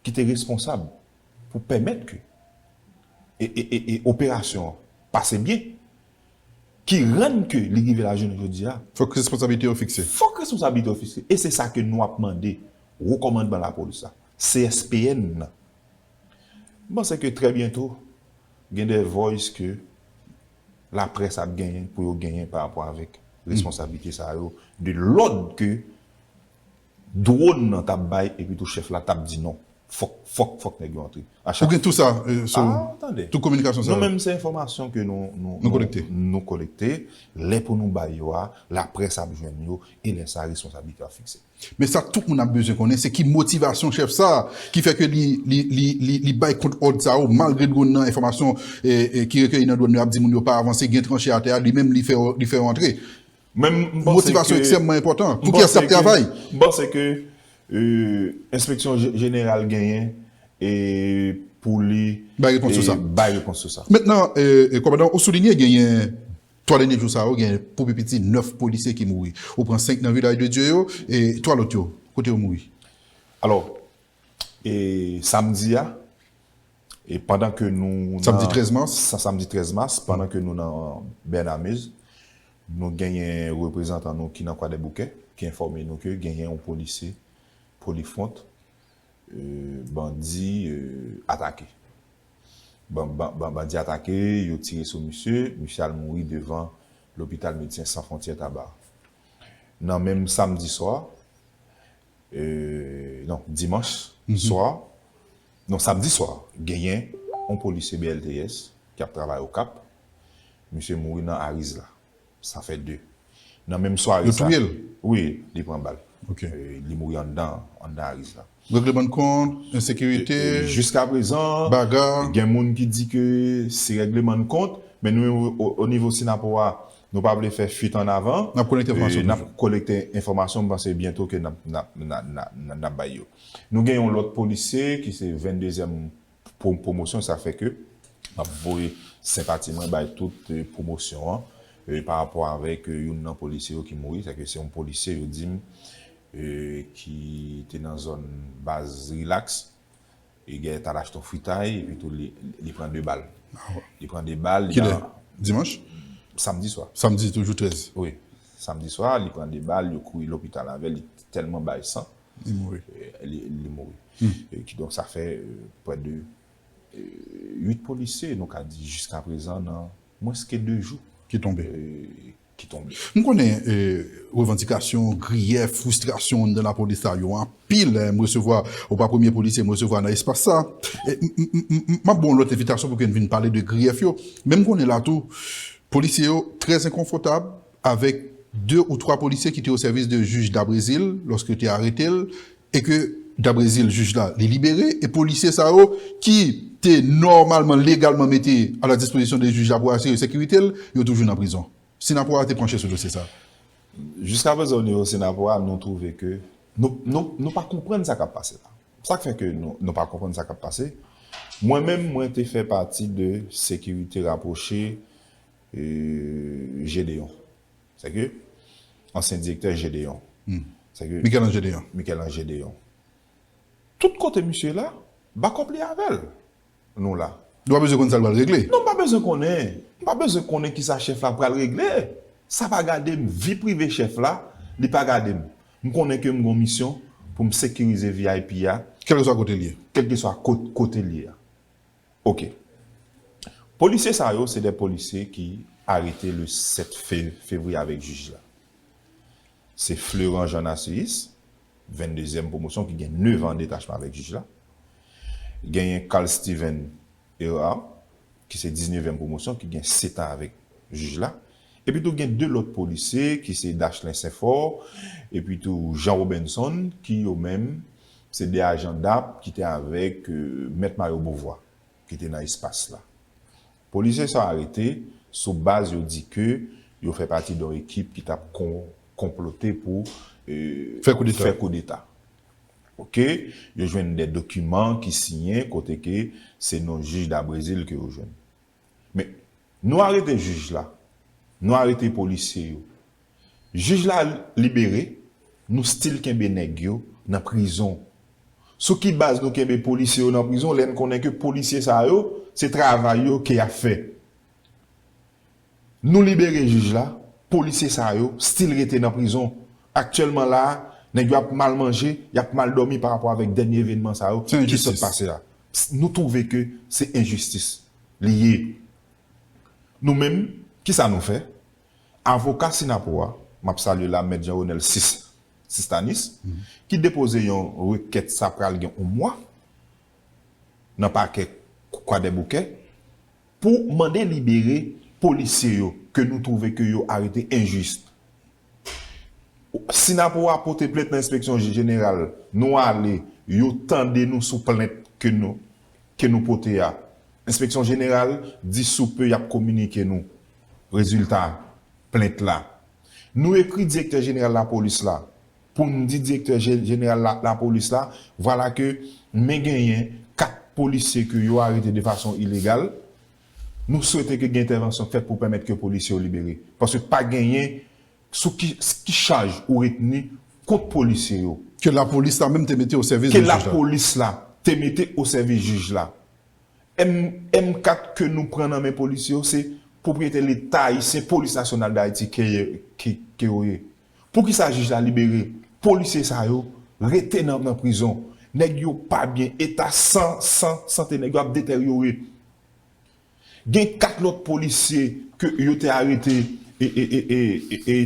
ki te responsab pou pèmèt ke e operasyon an pase byen, ki rann ke li rive la jounen jodi a. Fòk responsabilite yo fikse. Fòk responsabilite yo fikse. E se sa ke nou ap mande wo kòmandman lapolis la, CSPN nan. M panse ke trè byento Gen de voice ke la presse ap genyen pou yo genyen pa rapò avèk responsabilite sa yo de lòd ke drone nan tap bay epi tou chèf la tap di non fòk fòk fòk nèg yo antre a chak Ou gen tou sa sou ou? Ah tande. Tout kominikasyon sa yo? Nou menm se enfòmasyon ke nou nou Nou kolekte? nou kolekte, lè pou nou bay yo a la presse ap jwenn yo e lè sa responsabilite yo ap fikse. Men sa tout moun ap bezwen konnen se ki motivasyon chèf sa a ki fè ke li bay kont òd sa yo malgre dwòn nan enfòmasyon ki rekeyi nan dwòn yo ap di moun yo pa avanse gen tranche atè a li menm li fè yo antre. Motivasyon ekstrèmman enpòtan. Pou kiyès l ap travay? M panse ke enspeksyon jeneral genyen pou li bay repons sou sa. Mentnan, kòmandan, ou soulinye genyen 3 dènye jou sa yo gen pou pi piti 9 polisye ki mouri. Ou pran 5 nan Vilaj de Dye yo e 3 lòt yo, kote yo mouri? Alò, e samdi a, e pandan ke nou nan. Samdi 13 mas. Samdi 13 mas, pandan ke nou nan Bènamez, nou genyen reprezantan nou ki nan Kwadèboukè ki enfòme nou ke genyen yon polisye Polifront bandi atake. Bandi atake, yo tire sou misye, misye al mouri devan lopital Medsen San Fwontyè Taba. Nan menm samdi swa, non, dimanch swa, non, samdi swa, genyen yon polisye BLTS ki ap travay Okap, misye mouri nan Ariz la. Sa fè 2. Nan menm sware sa. Yo touye l? Wi, li pran bal. Ok. Li mouri anndan, anndan Ariz la. Regleman de kont, ensekirite. Jiska prezan. Bagarre. Gen moun ki di ke se regleman de kont, men nou menm o nivo Synapoh a, nou pa vle fè fuit an avan. N ap kolekte enfòmasyon toujou. N ap kolekte enfòmasyon, m panse byento ke n ap bay yo. Nou gen yon lòt polisye ki se 22 èm Pwomosyon sa fè ke m ap voye senpati mwen bay tout pwomosyon an pa rapò avèk youn nan polisye yo ki mouri. Sa vle di se yon polisye yo di m ki te nan zòn baz Rilaks e gè t al achte yon fritay epi tou li pran 2 bal. Li pran 2 bal. Kilè? Dimanch? Samdi swa. Samdi toujou 13? Wi. Samdi swa li pran 2 bal, yo kouri lopital avè l, li tèlman bay san. Li mouri. Li mouri. Ki donk sa fè prè de 8 polisye nou ka di jiska prezan nan mwens ke 2 jou. Ki tonbe. Ki tonbe. M konnen revandikasyon, griyèf, fristrasyon anndan lapolis la yo anpil. M resevwa, ou pa premye polisye m resevwa nan espas sa. M ap ba w yon lòt envitasyon pou ke n vin pale de griyèf yo. Men m konnen la tou, polisye yo trè enkonfotab, avèk 2 ou 3 polisye ki te o sèvis de jij Dabrezil lòske yo te arete l e ke Dabrezil, jij la, li libere e polisye sa yo ki te nòmalman, legalman mete a la dispozisyon de jij la pou asire sekirite l, yo toujou nan prizon. Sinapwa a te panche sou dosye sa. Jiskaprezan onivo Sinapwa a nou twouve ke nou, nou, nou pa konprann sa k ap pase la. Sa k fè ke nou, nou pa konprann sa k ap pase, mwen menm mwen te fè pati de sekirite rapwoche Gédéon. Sèke, ansyen direktè Gédéon. Sèke. Michel-Ange Gédéon. Michel-Ange Gédéon. Tout kote misye la, bakòp li avè l. Nou la. Nou pa bezwen konn sa l pral regle. Non m pa bezwen konnen. M pa bezwen konnen ki sa chèf la pral regle. Sa pa gade m. Vi prive chèf la, li pa gade m. M konnen ke m gon misyon pou m sekirize vip a. Kèlkeswa kote l ye. Kèlkeswa kote l ye a. Ok. Polisye sa yo se 2 polisye ki arete le 7 fevriye avèk jij la. Se Fleurant Jean Narcisse, 22 zièm pwomosyon ki gen 9 an detachman avèk jij la. Genyen Carl Steven Herard ki se 19 èm pwomosyon ki gen 7 an avèk jij la. Epitou gen 2 lòt polisye ki se Dachelin Senfort epitou Jean Robinson ki yo menm se 2 ajan dap ki te avèk Mèt Mario Beauvoir ki te nan espas la. Polisye sa arete sou baz yo di ke yo fè pati don ekip ki tap konplote pou fè koudeta. Ok, yo jwenn 2 dokiman ki siyen kote ke se non jij Dabrésil ke yo jwenn. Men, nou arete jij la, nou arete polisye yo. Jij la libere, nou stil kenbe nèg yo nan prizon. Sou ki baz nou kenbe polisye yo nan prizon lè n konnen ke polisye sa yo, se travay yo ke y ap fè? Nou libere jij la, polisye sa yo stil rete nan prizon. Aktyèlman la a, nèg yo ap mal manje, y ap mal dòmi parapò avèk dènye evenman sa yo ki sot pase la. Sen jistis! Psst nou trouve ke se enjistis li ye nou menm kisa nou fè avoka synapoh a map salye la mèt Jean Ronel Sistanis ki depoze yon rekèt sa pral gen on mwa nan pakè kwadèboukè pou mande libere polisye yo ke nou trouve ke yo arete enjis Si nap ou a pote plent nan enspeksyon jeneral nou ale yo tande nou sou plent ke nou ke nou pote a enspeksyon jeneral di sou pe yap kominike nou rezilta plent la nou ekri direktè jeneral lapolis la poun di direktè jeneral lapolis la vwala ke men genyen 4 polisye ke yo arete de fason ilegal Nou swete ke gen entèvansyon fèt pou pèmèt ke polisye yo libere. Paske pa genyen sou ki ki chaj ou retni kont polisye yo. Ke lapolis la menm te mete o sèvis de jij la. Ke lapolis la te mete o sèvis jij la. M M kat ke nou pran nan men polisye yo se pwopriyete leta ayisyen, polis nasyonal dayiti ke ke yo ye. Poukisa jij la libere polisye sa yo rete nan nan prizon nèg yo pa byen eta san san sante nèg yo ap detèryore gen 4 lòt polisye ke yo te arete e e e e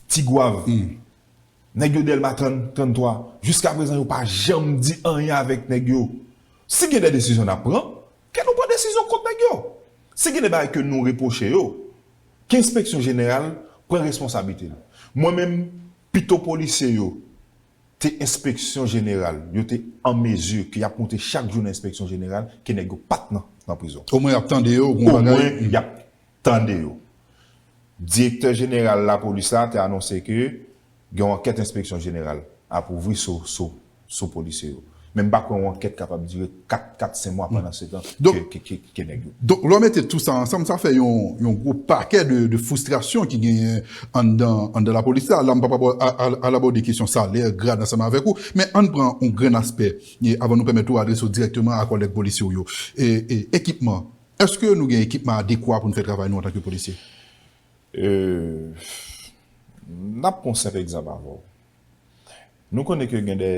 tigwav nèg yo dèlma 30 33 jiska prezan yo pa janm di anyen avèk nèg yo si gen de desizyon nap pran ke nou pran desizyon kont nèg yo si gen de bagay ke nou repwoche yo. K enspeksyon jeneral pran responsablite l. Mwen menm pito polisye yo te enspeksyon jeneral yo te an mezi ke yap moute chak jou nan enspeksyon jeneral ke nèg yo pat nan prizon. Omwen yap tande yo bon bagay. Omwen yap tande yo. Direktè jeneral lapolis la te anonse ke. Gen yon ankèt enspeksyon jeneral ap ouvri sou sou sou polisye yo. Men m pa kwè yon ankèt kapab dire 4 4 sen mwa pandansetan ke ke ke nèg yo. Donk lè w mete tou sa ansanm sa fè yon yon gwo pakè de de fwistrasyon ki genyen anndan anndan lapolis la. La m p ap abò a a al abòde kesyon salè, grad ansanm avèk ou. Men ann pran yon grenn aspè e avan nou pèmèt ou adrese w dirèkteman a kòlèg polisye w yo. E e ekipman, èske nou gen ekipman adekwa pou n fè travay nou antanke polisye? Eeuhh N ap pran yon senp egzanp avè w. Nou konnen ke gen dè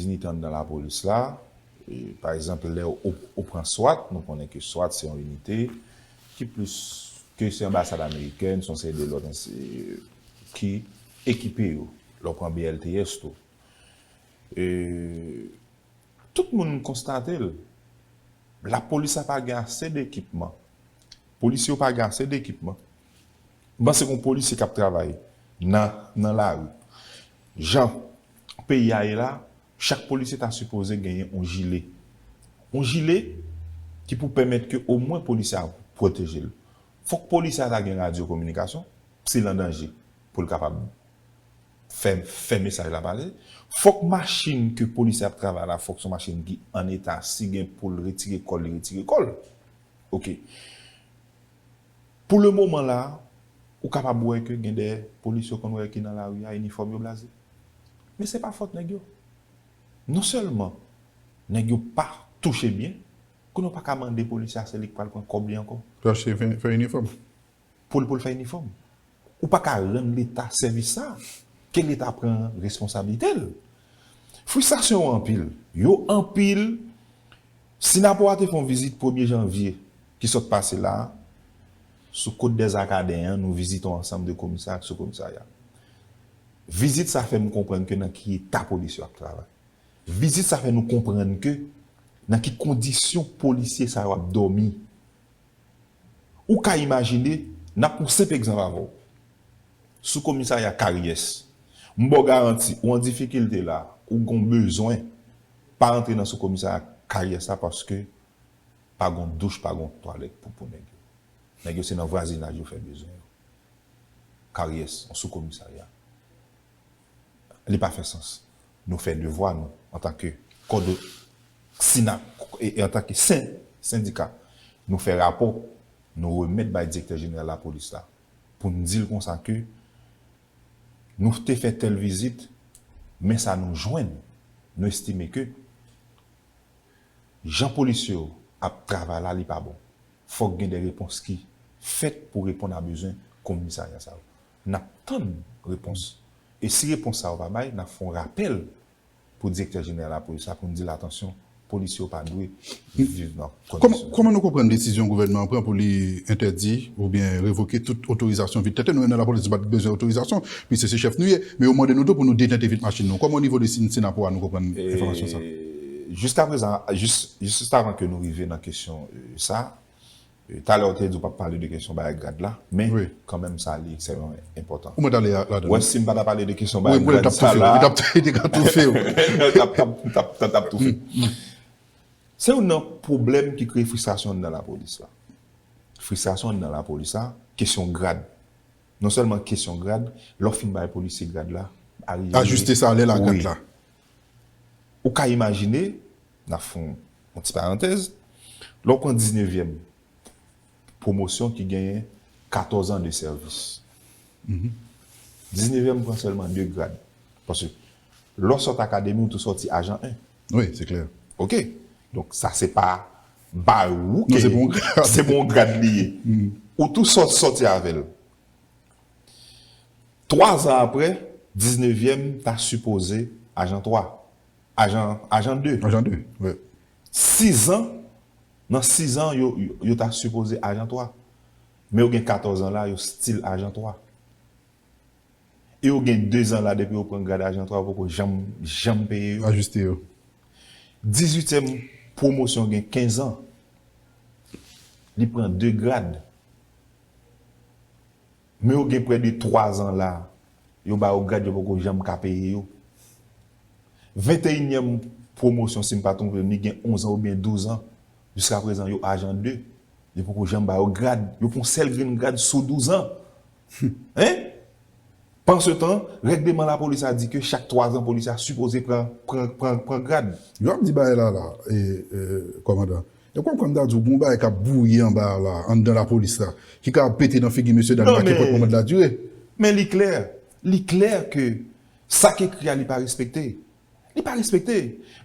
inite anndan lapolis la, pa egzanp lè ou pran swat, nou konnen ke swat se yon inite ki plis, ke se anbasad amerikèn, se yon seri de lòt ki ekipe yo. Lè w pran BLTS tou. Eeuhh. Tout moun konstate l. Lapolis la pa gen ase de ekipman. Polisye yo pa gen ase de ekipman. M panse gon polisye k ap travay nan nan lari. Jan peyi a ye la, chak polisye ta sipoze genyen yon jile. Yon jile ki pou pèmèt ke omwen polisye a pwoteje l. Fòk polisye a ta gen radyo kominikasyon si l an danje pou l kapab fè fè mesaj la pale, fòk machin ke polisye ap travay la fòk son machin ki an eta si gen poul retire kòl li retire kòl ok pou le moman la ou kapab wè ke gen de polisye ou konn wè ki nan lari a inifòm yo blaze men se pa fòt nèg yo non sèlman nèg yo pa touche byen kounye ou paka mande polisye a se li ki pral pran kòb li ankò. Chache fè inifòm. poul poul fè inifòm ou paka rann leta sèvis sa ke leta pran responsablitel fristasyon yo anpil yo anpil sinapoa te fon vizit premye janvye ki sòt pase la sou kot dèzakaden an nou vizite yon ansanm de komisarya ak sou komisarya vizit sa fèm konprann ke nan ki eta polis yo ap travay vizit sa fè nou konprann ke nan ki kondisyon polisye sa yo ap dòmi. Ou ka imajine, n ap pran senp egzanp avè w. Sou komisarya Karyès, m ba w garanti, ou an difikilte la, ou gen w bezwen, pa antre nan sou komisarya Karyès la paske pa gen w douch, pa gen w twalèt pou pou nèg yo. Nèg yo se nan vwazinaj yo fè bezwen yo. Karyès, yon sou komisarya. li pa fè sans. Nou fè devwa nou antanke kòdo sina e antanke sen sendika. Nou fè rapò nou remèt bay direktè jeneral lapolis la pou n di l konsa ke nou te fè tèl vizit men sa nou jwenn nou estime ke jan polisye yo ap travay la li pa bon. Fòk gen de repons ki fèt pou reponn a bezwen komisarya sa yo. Nap tann repons. E si repons sa yo pa bay, nap fè yon rapèl pou Direktè Jeneral Lapolis la pou n di l atansyon, polisye yo pa dwe viv nan kondisyon sa. Kòman nou konprann desizyon gouvènman an pran pou li entèdi oubyen revoke tout otorizasyon vit tenten? Nou menm nan Lapolis nou pa t bezwen otorizasyon piske se chèf nou ye. Men yo mande nou tou pou nou detente vit machin nou. Kòman onivo de Synapoha nou konprann enfòmasyon sa? Jiskaprezan, jis avan ke nou rive nan kesyon sa, Talè ou te di ou pap pale de kesyon bay grad la, men kanmenm sa li ekstrèmman enpòtan. Ou wè si m pa ta pale de kesyon bay grad sa la. Ou te ka toufe w. Ou tap toufe. Se youn nan pwoblèm ki kreye fristrasyon anndan lapolis la. Fristrasyon anndan lapolis la, kesyon grad. Non sèlman kesyon grad, lè w fin bay polisye grad la, arive. Ajiste salè l a grad la. Ou ka imajine, N ap fè yon ti parantèz, lè w pran diznevyèm pwomosyon ki genyen katòzan de sèvis, diznevyèm pran sèlman de grad. Paske lè w sot akademi ou tou soti ajan 1. Wi, se klè. Ok. Donk sa se pa bay ou ke se pou yon grad li ye. Ou tou sot soti avè l. Twazan apre, diznevyèm ta sipoze ajan 3. Ajan, ajan de. Ajan de, wi. Sizan, nan sizan yo, yo ta sipoze ajan twa. Men yo gen katòzan la, yo stil ajan twa. E yo gen dezan la depi yo pran grad ajan twa yo poko janm, janm peye yo. Ajiste yo. Dizuityèm pwomosyon gen kenzan. Li pran de grad. Men yo gen prè de 3 zan la yo ba yo grad yo poko janm ka peye yo. Venteyinyèm pwomosyon si m pa twonpe m li gen onzan oubyen douzan, jiska prezan yo ajan 2, yo poko janm ba yo grad, yo pran yon sèl grenn grad sou douzan! Hein! Pansetan, règleman lapolis la di ke chak 3 zan polisye a sipoze pran grad. Yo ap di bagay la la, kòmandan. Ew konprann mta diw gon bagay kap bouyi anba a la anndan la police la ki ka ap pete nan figi mesye dam la kenpot moman la dire. Men li klè, li klè ke sak ekri a li pa respekte. Li pa respekte.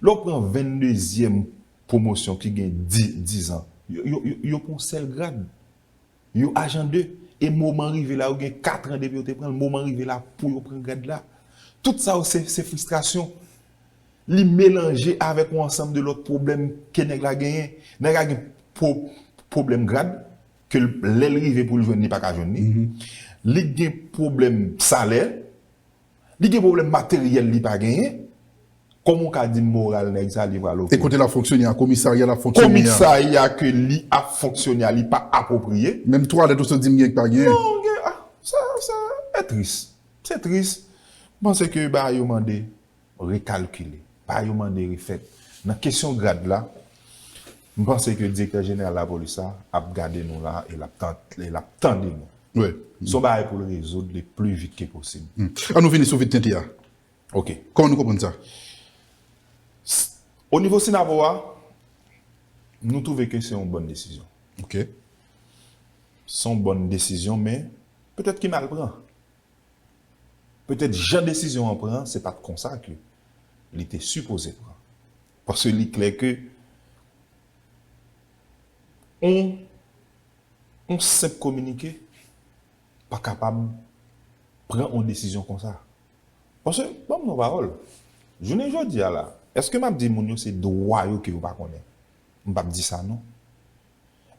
Lè w pran 22 zyèm pwomosyon ki gen 10 ans, yo pran w sèl grad. Yo ajan de, e moman rive la yo gen 4 an depi yo te pranl, moman rive la pou yo pran grad la. Tout sa yo se se fristrasyon. Li melanje avèk yon ansanm de lòt pwoblèm ke nèg la genyen. Nèg la gen pwo pwoblèm grad ke lèl rive poul jwenn li pa ka jwenn li. Li gen pwoblèm salè, Li gen pwoblèm materyèl li pa genyen, kòman ou ka di m moral nèg sa li pral oke? E kote l ap fonksyone a, komisarya l ap fonksyone a? Komisarya ke li ap fonksyone a li pa apwopriye? Menm twalèt ou sot di m gen ki pa genyen? Non gen, ah sa sa e tris, se tris. M panse ke bagay yo mande rekalkile, bagay yo mande refèt. Nan kesyon grad la, M panse ke direktè jeneral lapolis la ap gade nou la e l ap tande nou. Se yon bagay pou l rezoud le pli vit ke posib. An nou vini sou vide tenten an. Ok. Kòman nou konprann sa? O nivo Synapoh a, nou twouve ke se yon bòn desizyon. Ok. Se yon bòn desizyon men petèt ki mal pran. Petèt jan desizyon an pran se pa t konsa ke li te sipoze pran. Paske li klè ke yon yon senp kominike pa kapab pran yon desizyon konsa. Paske, banm yon pawòl, jounen jodi a la, eske map di moun yo se dwa yo ke yo pa konnen? M pap di sa non.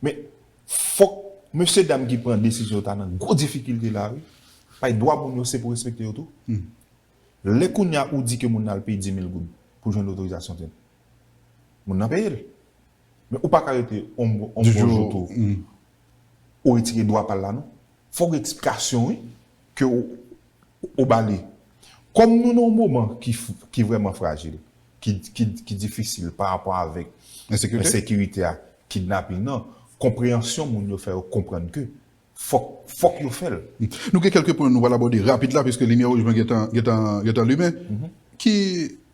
Men, fòk mesye dam ki pran desizyon ta nan gwo difikilte la wi. Paske dwa moun yo se pou respekte yo tou. Lè kounya ou di ke moun nan al peye 10.000 goud pou jwenn otorizasyon tenten. Moun nan peye l. Men ou pa ka rete yon bon jou tou ou retire dwa pa l la non. Fòk gen eksplikasyon wi ke ou ba li. Kòm nou nan yon moman ki vrèman frajil, ki difisil pa rapò avèk ensekirite a, kidnaping nan, konpreyansyon moun yo fè yo konprann ke Fòk, fòk yo fè l. Nou gen kèlke pwen nou pral abòde rapid la piske limyè wouj mwen gentan, gentan, gentan limen. Ki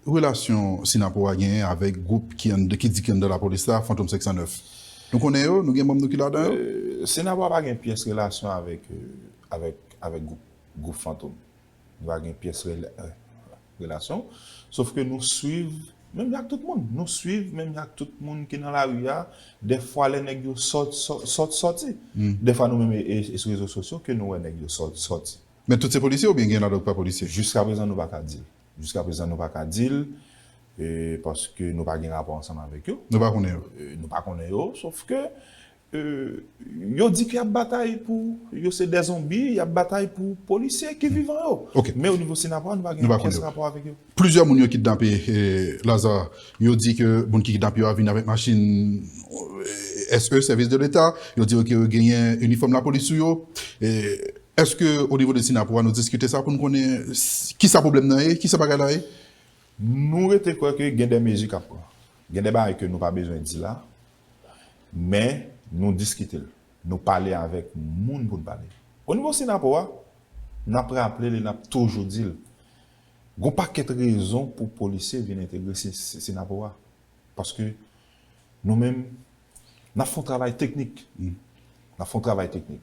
relasyon Synapoh a genyen avèk gwoup ki anndan, ki di ki anndan lapolis la, Fantom 509? Nou konnen yo? Nou gen manm nou ki ladan yo? Synapoh pa gen pyès relasyon avèk, avèk, avèk gwoup, gwoup Fantom. Nou pa gen pyès relasyon. Sof ke nou swiv menm jan ak tout moun. Nou swiv menm jan ak tout moun ki nan lari a. Dèfwa lè nèg yo sot, sot soti. Dèfwa nou menm e sou rezo sosyo ke nou wè nèg yo sot soti. Men tout se polisye oubyen gen ladan yo ki pa polisye? Jiska prezan nou pa ka di. Jiska prezan nou pa ka di l. Paske nou pa gen rapò ansanm avèk yo. Nou pa konnen yo? Nou pa konnen yo. Sof ke Yo di ke yap batay pou, yo se dè zonbi, yap batay pou polisye ki vivan yo. Men o nivo Sinapa nou pa gen pyès rapò avèk yo. Plizyè moun yo kidnape Lazarre, yo di ke moun ki kidnape yo a vin avèk machin SE, Sèvis de Leta, yo di yo ke yo genyen inifòm lapolis sou yo. Eske o nivo de Sinapa nou diskite sa pou nou konnen kisa pwoblèm nan ye, kisa bagay la ye? Nou rete kwè ke gen dè mezi kap pran. Gen dè bagay ke nou pa bezwen di la, Men, nou diskite l. Nou pale avèk moun pou n pale. Onivo Synapoh a, n ap raple l e n ap toujou di l, gon pakèt rezon pou polisye vin entegre Synapoh a. Paske, nou menm, n ap fè yon travay teknik. N ap fè yon travay teknik.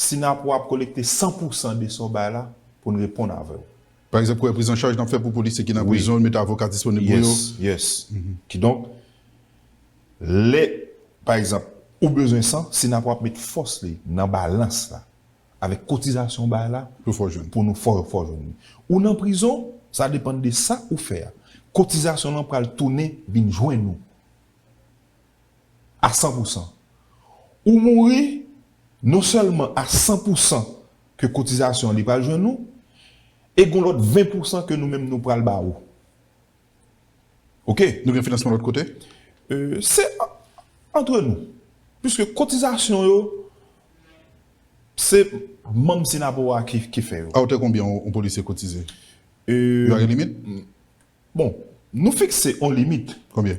Synapoha ap kolekte 100 pousan de sa w bay la pou n reponn avè w. Pa egzanp, kouwè priz an chaj n ap fè pou polisye ki nan prizon yo, mete avoka disponib pou yo. Yes, yes. Kidonk, lè, pa egzanp, ou bezwen san, Synapoha ap met fòs li nan balans la avèk kotizasyon w bay la Pou fè w jwenn. pou nou fè w fè w jwenn li. Ou nan prizon, sa depann de sa ou fè a. Kotizasyon lan pral tounen vin jwenn ou. a san pou san. Ou mouri non sèlman a san pou san ke kotizasyon li pral jwenn ou, e gon lòt 20 pou san ke nou menm nou pral ba ou. Ok. Nou gen finansman lòt kote? Se antre nou. Piske kotizasyon yo, se manm Synapoha ki fè yo. A otè konbyen yon polisye kotize? Yo a gen limit? Bon Nou fikse on limit. Konbyen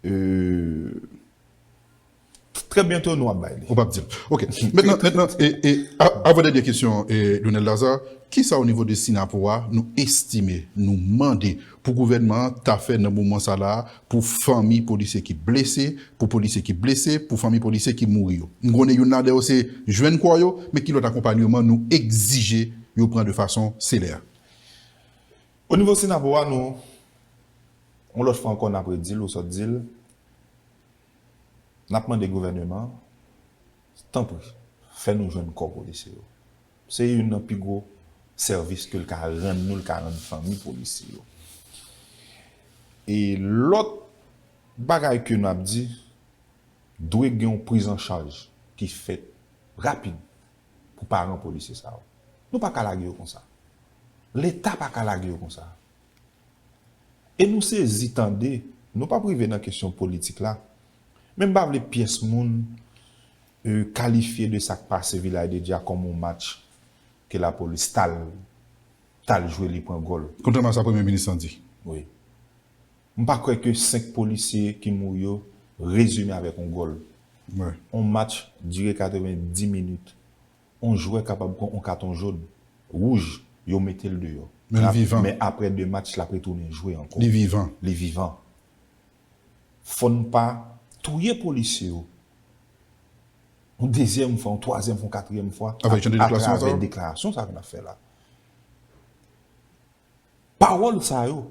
euh. Trè byento nou ap bay li. Ou pap dil. Ok. Mentnan mentnan e avan dènye kesyon Donel Lazarre, kisa o nivo de Sinapo a nou estime, nou mande pou gouvènman an ta fè nan moman sa la a pou fanmi polisye ki blese, pou polisye ki blese, pou fanmi polisye ki mouri yo. M konnen youn ladan yo se jwenn kò yo, men ki lòt akonpanyeman nou egzije yo pran de fason selèr? O nivo Sinapò a nou yon lòt fwa ankò n ap redi l ou sot di l, n ap mande gouvèneman an tanpri fè nou jwenn kò polisye yo. Se youn nan pi gwo sèvis ke l ka rann nou, l ka rann fanmi polisye yo. E lòt bagay ke n ap di, dwe gen yon prizanchaj ki fèt rapid. pou paran polisye sa yo. Nou pa ka lage yo konsa. Leta pa ka lage yo konsa. E nou sezi tande, nou pap rive nan kesyon politik la, men m pa vle pyès moun kalifye de sa k pase Vilay de Dya kòm yon match ke lapolis t al jwe li pran gòl. Kontrèman a sa Premye Minis lan di. Wi. M pa kwè ke 5 polisye ki mouri yo rezime avèk on gòl. On match dire 90 minit. On jwè kapab pran on katon jòn, wouj, yo mete l deyò. Men aprè 2 match l ap retounen jwe ankò. Li vivan. Fò n pa touye polisye yo on dezyèm fwa, on twazyèm fwa, on katriyèm fwa atravè deklarasyon sa yo n ap fè la. Pawòl sa yo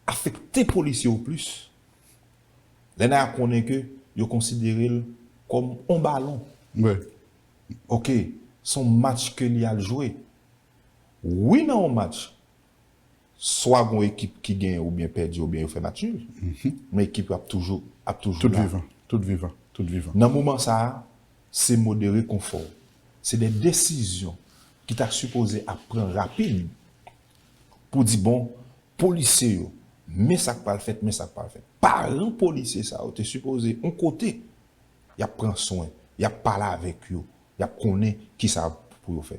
afekte polisye yo plis lè Naya konnen ke yo konsidere l kòm on balon ok se on match ke li al jwe wi nan on match swa gon ekip ki genyen oubyen pèdi oubyen yo fè match nul men ekip yo ap toujou ap toujou la tout vivan nan moman sa Se modere konfò. Se de desizyon ki ta sipoze ap pran rapid pou di bon polisye yo men sa k pral fèt men sa k pral fèt. Paran polisye sa yo te sipoze on kote y ap pran swen, y ap pale avèk yo, y ap konnen kisa pou yo fè.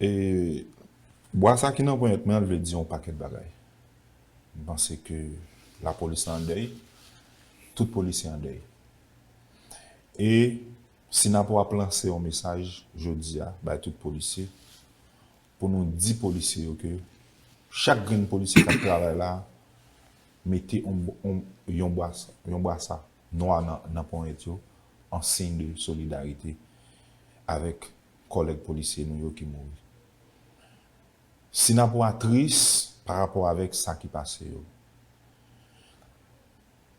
E bwa sa ki nan ponyèt mwen an vle di yon pakèt bagay. M panse ke lapolis la an dèy, tout polisye an dèy. E si n ap ap lanse yon mesaj jodi a bay tout polisye, pou nou di polisye yo ke chak grenn polisye k ap travay la mete yon yon bwasa nwa nan ponyèt yo an siy de solidarite avèk kòlèg polisye nou yo ki mouri. Sinapou a tris pa rapò avèk sa ki pase yo.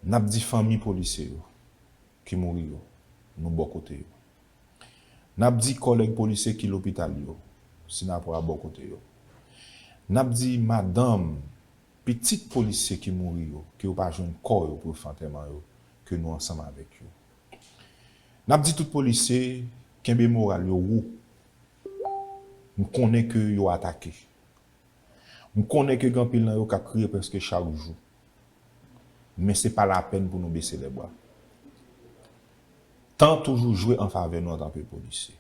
N ap di fanmi polisye yo ki mouri yo, nou bò kote yo. N ap di kòlèg polisye ki lopital yo, Sinapou a bò kote yo. N ap di madanm, pitit polisye ki mouri yo, ke yo pa jwenn kò yo pou yo fè antèman yo, ke nou ansanm avèk yo. Nap di tout polisye kenbe moral yo wo m konnen ke yo atake m konnen ke gen anpil nan yo kap kriye preske chak jou men se pa lapèn pou nou bese lèbra tan toujou jwe anfavè nou antanke polisye.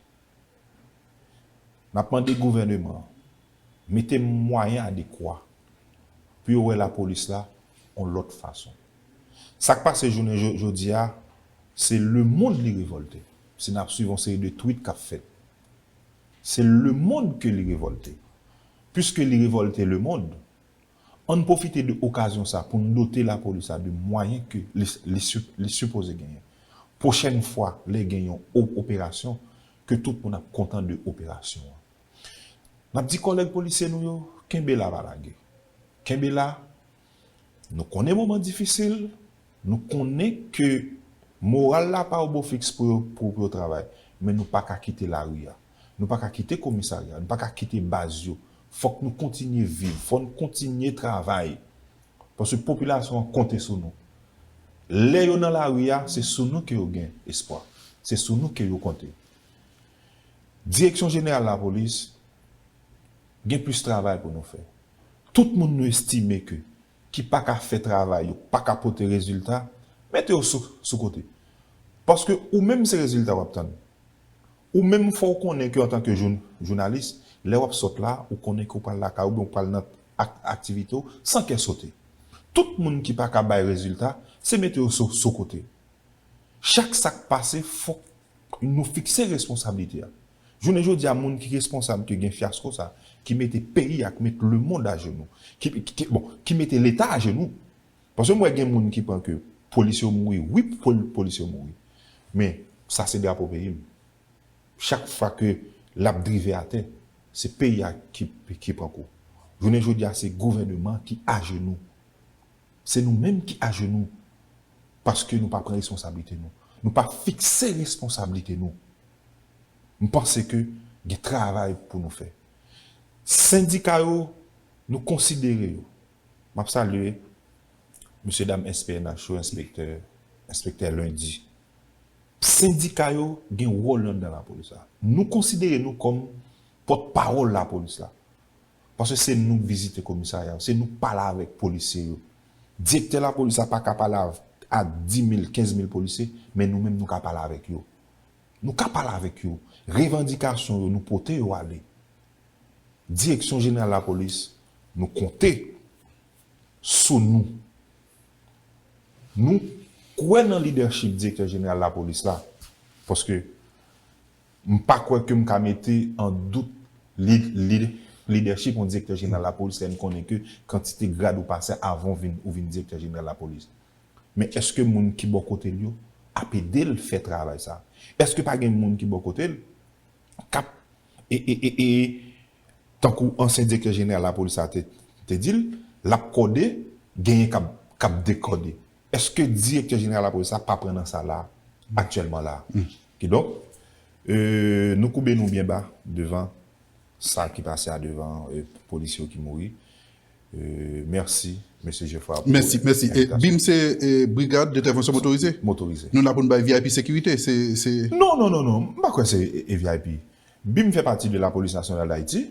N ap mande gouvèneman an mete mwayen adekwa pou yo wè lapolis la yon lòt fason. Sa k pase jounen jodi a, se lemonn li revòlte, si n ap suiv yon seri de twit k ap fèt. Se lemonn ke li revòlte. Piske li revòlte lemonn, Ann pwofite de okazyon sa pou n dote lapolis la de mwayen ke li sipoze genyen. Pwochèn fwa lè gen yon operasyon, ke tout moun ap kontan de operasyon an. N ap di kòlèg polisye nou yo, kenbe la pa lage. Kenbe la, nou konnen moman difisil, nou konnen ke moral la pa o bo fiks pou yo travay, men nou pa ka kite lari an. Nou pa ka kite komisarya, nou pa ka kite baz yo. Fòk nou kontinye viv, fò n kontinye travay. Paske popilasyon an konte sou nou. Lè yo nan lari a, se sou nou ke yo gen espwa. Se sou nou ke yo konte. Direksyon jeneral lapolis gen plis travay pou nou fè. Tout moun nou estime ke ki pa ka fè travay yo, pa ka pote rezilta, mete yo sou kote. Paske ou menm se rezilta w ap tann. Ou menm fòw konnen ke antan ke jounalis, lè wap sot la, ou konnen ke ou pral lakay oubyen ou pral nan aktivite w san kè sote. Tout moun ki paka bay rezilta, se mete yo so kote. Chak sak pase fòk nou fikse responsablite a. Jounen jodi a moun ki responsab ke gen fyasko sa, ki mete peyi a, ki met lemond ajenou, bon, ki mete leta ajenou, Paske m wè gen moun ki pran ke polis yo mouri wi polis yo mouri men sa se drapo peyi m chak fwa ke lap drive atè se peyi a ki pran kou jounen jodi a se gouvèneman ki ajenou se nou menm ki ajenou paske nou pa pran responsablite nou nou pa fikse responsablite nou m panse ke gen travay pou nou fè sendika yo nou konsidere yo. M ap salye mesye dam SPNH yo, enspektè, enspektè Lundi. Sendika yo gen wòl yo anndan lapolis la. Nou konsidere nou kòm pòt pawòl lapolis la. Paske se nou k vizite komisarya yo, se nou k pale avèk polisye yo. Direktè lapolis la pa ka pale ak dimil, kenzmil polisye, men nou menm nou ka pale avèk yo. Nou ka pale avèk yo. Revandikasyon yo nou pote yo ale. Direksyon Jeneral Lapolis, nou konte sou nou. Nou kwè nan lidèchip Direktè Jeneral Lapolis la, paske m pa kwè ke m ka mete an dout lidèchip yon Direktè Jeneral Lapolis lè n konnen ke kantite grad ou pase avan ou vin Direktè Jeneral Lapolis. Men èske moun ki bò kote l yo ap ede l fè travay sa? Èske pa gen moun ki bò kote l kap ee tankou ansyen direktè jeneral lapolis la te di l lap kòde genyen kap dekòde eske direktè jeneral lapolis la pa pran nan sa la aktyèlman la kidonk nou koube nou byen ba devan sa ki pase a devan polis yo ki mouri Merci Mesye Geffrard pou envitasyon. Mèsi, mèsi. E bim se Brigad Entèvansyon Motorize? Motorize. Nou la pou n bay vip sekirite, se, se. Non, non, non, non. M pa kwè se vip. Bim fè pati de Lapolis Nasyonal Dayiti.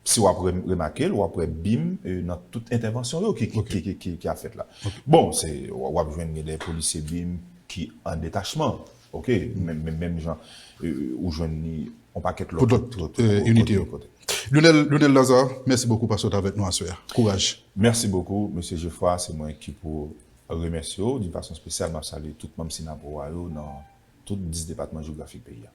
Si w ap remake l, w ap wè bim nan tout entèvansyon yo ki, ki, ki ap fèt la. Bon, se, w ap jwenn gen dè polisye bim ki an detachman. Ok, menm jan ou jwenn li yon pakèt lòt inite yo. Lionel Lazarre, mèsi bokou paske w t avèk nou aswè a. Kouraj! Mèsi bokou, Mesye Jefra, se mwen ki pou remèsye w. D'une façon spéciale, m ap salye tout manm Synapowa yo nan tout 10 depatman jewografik peyi a.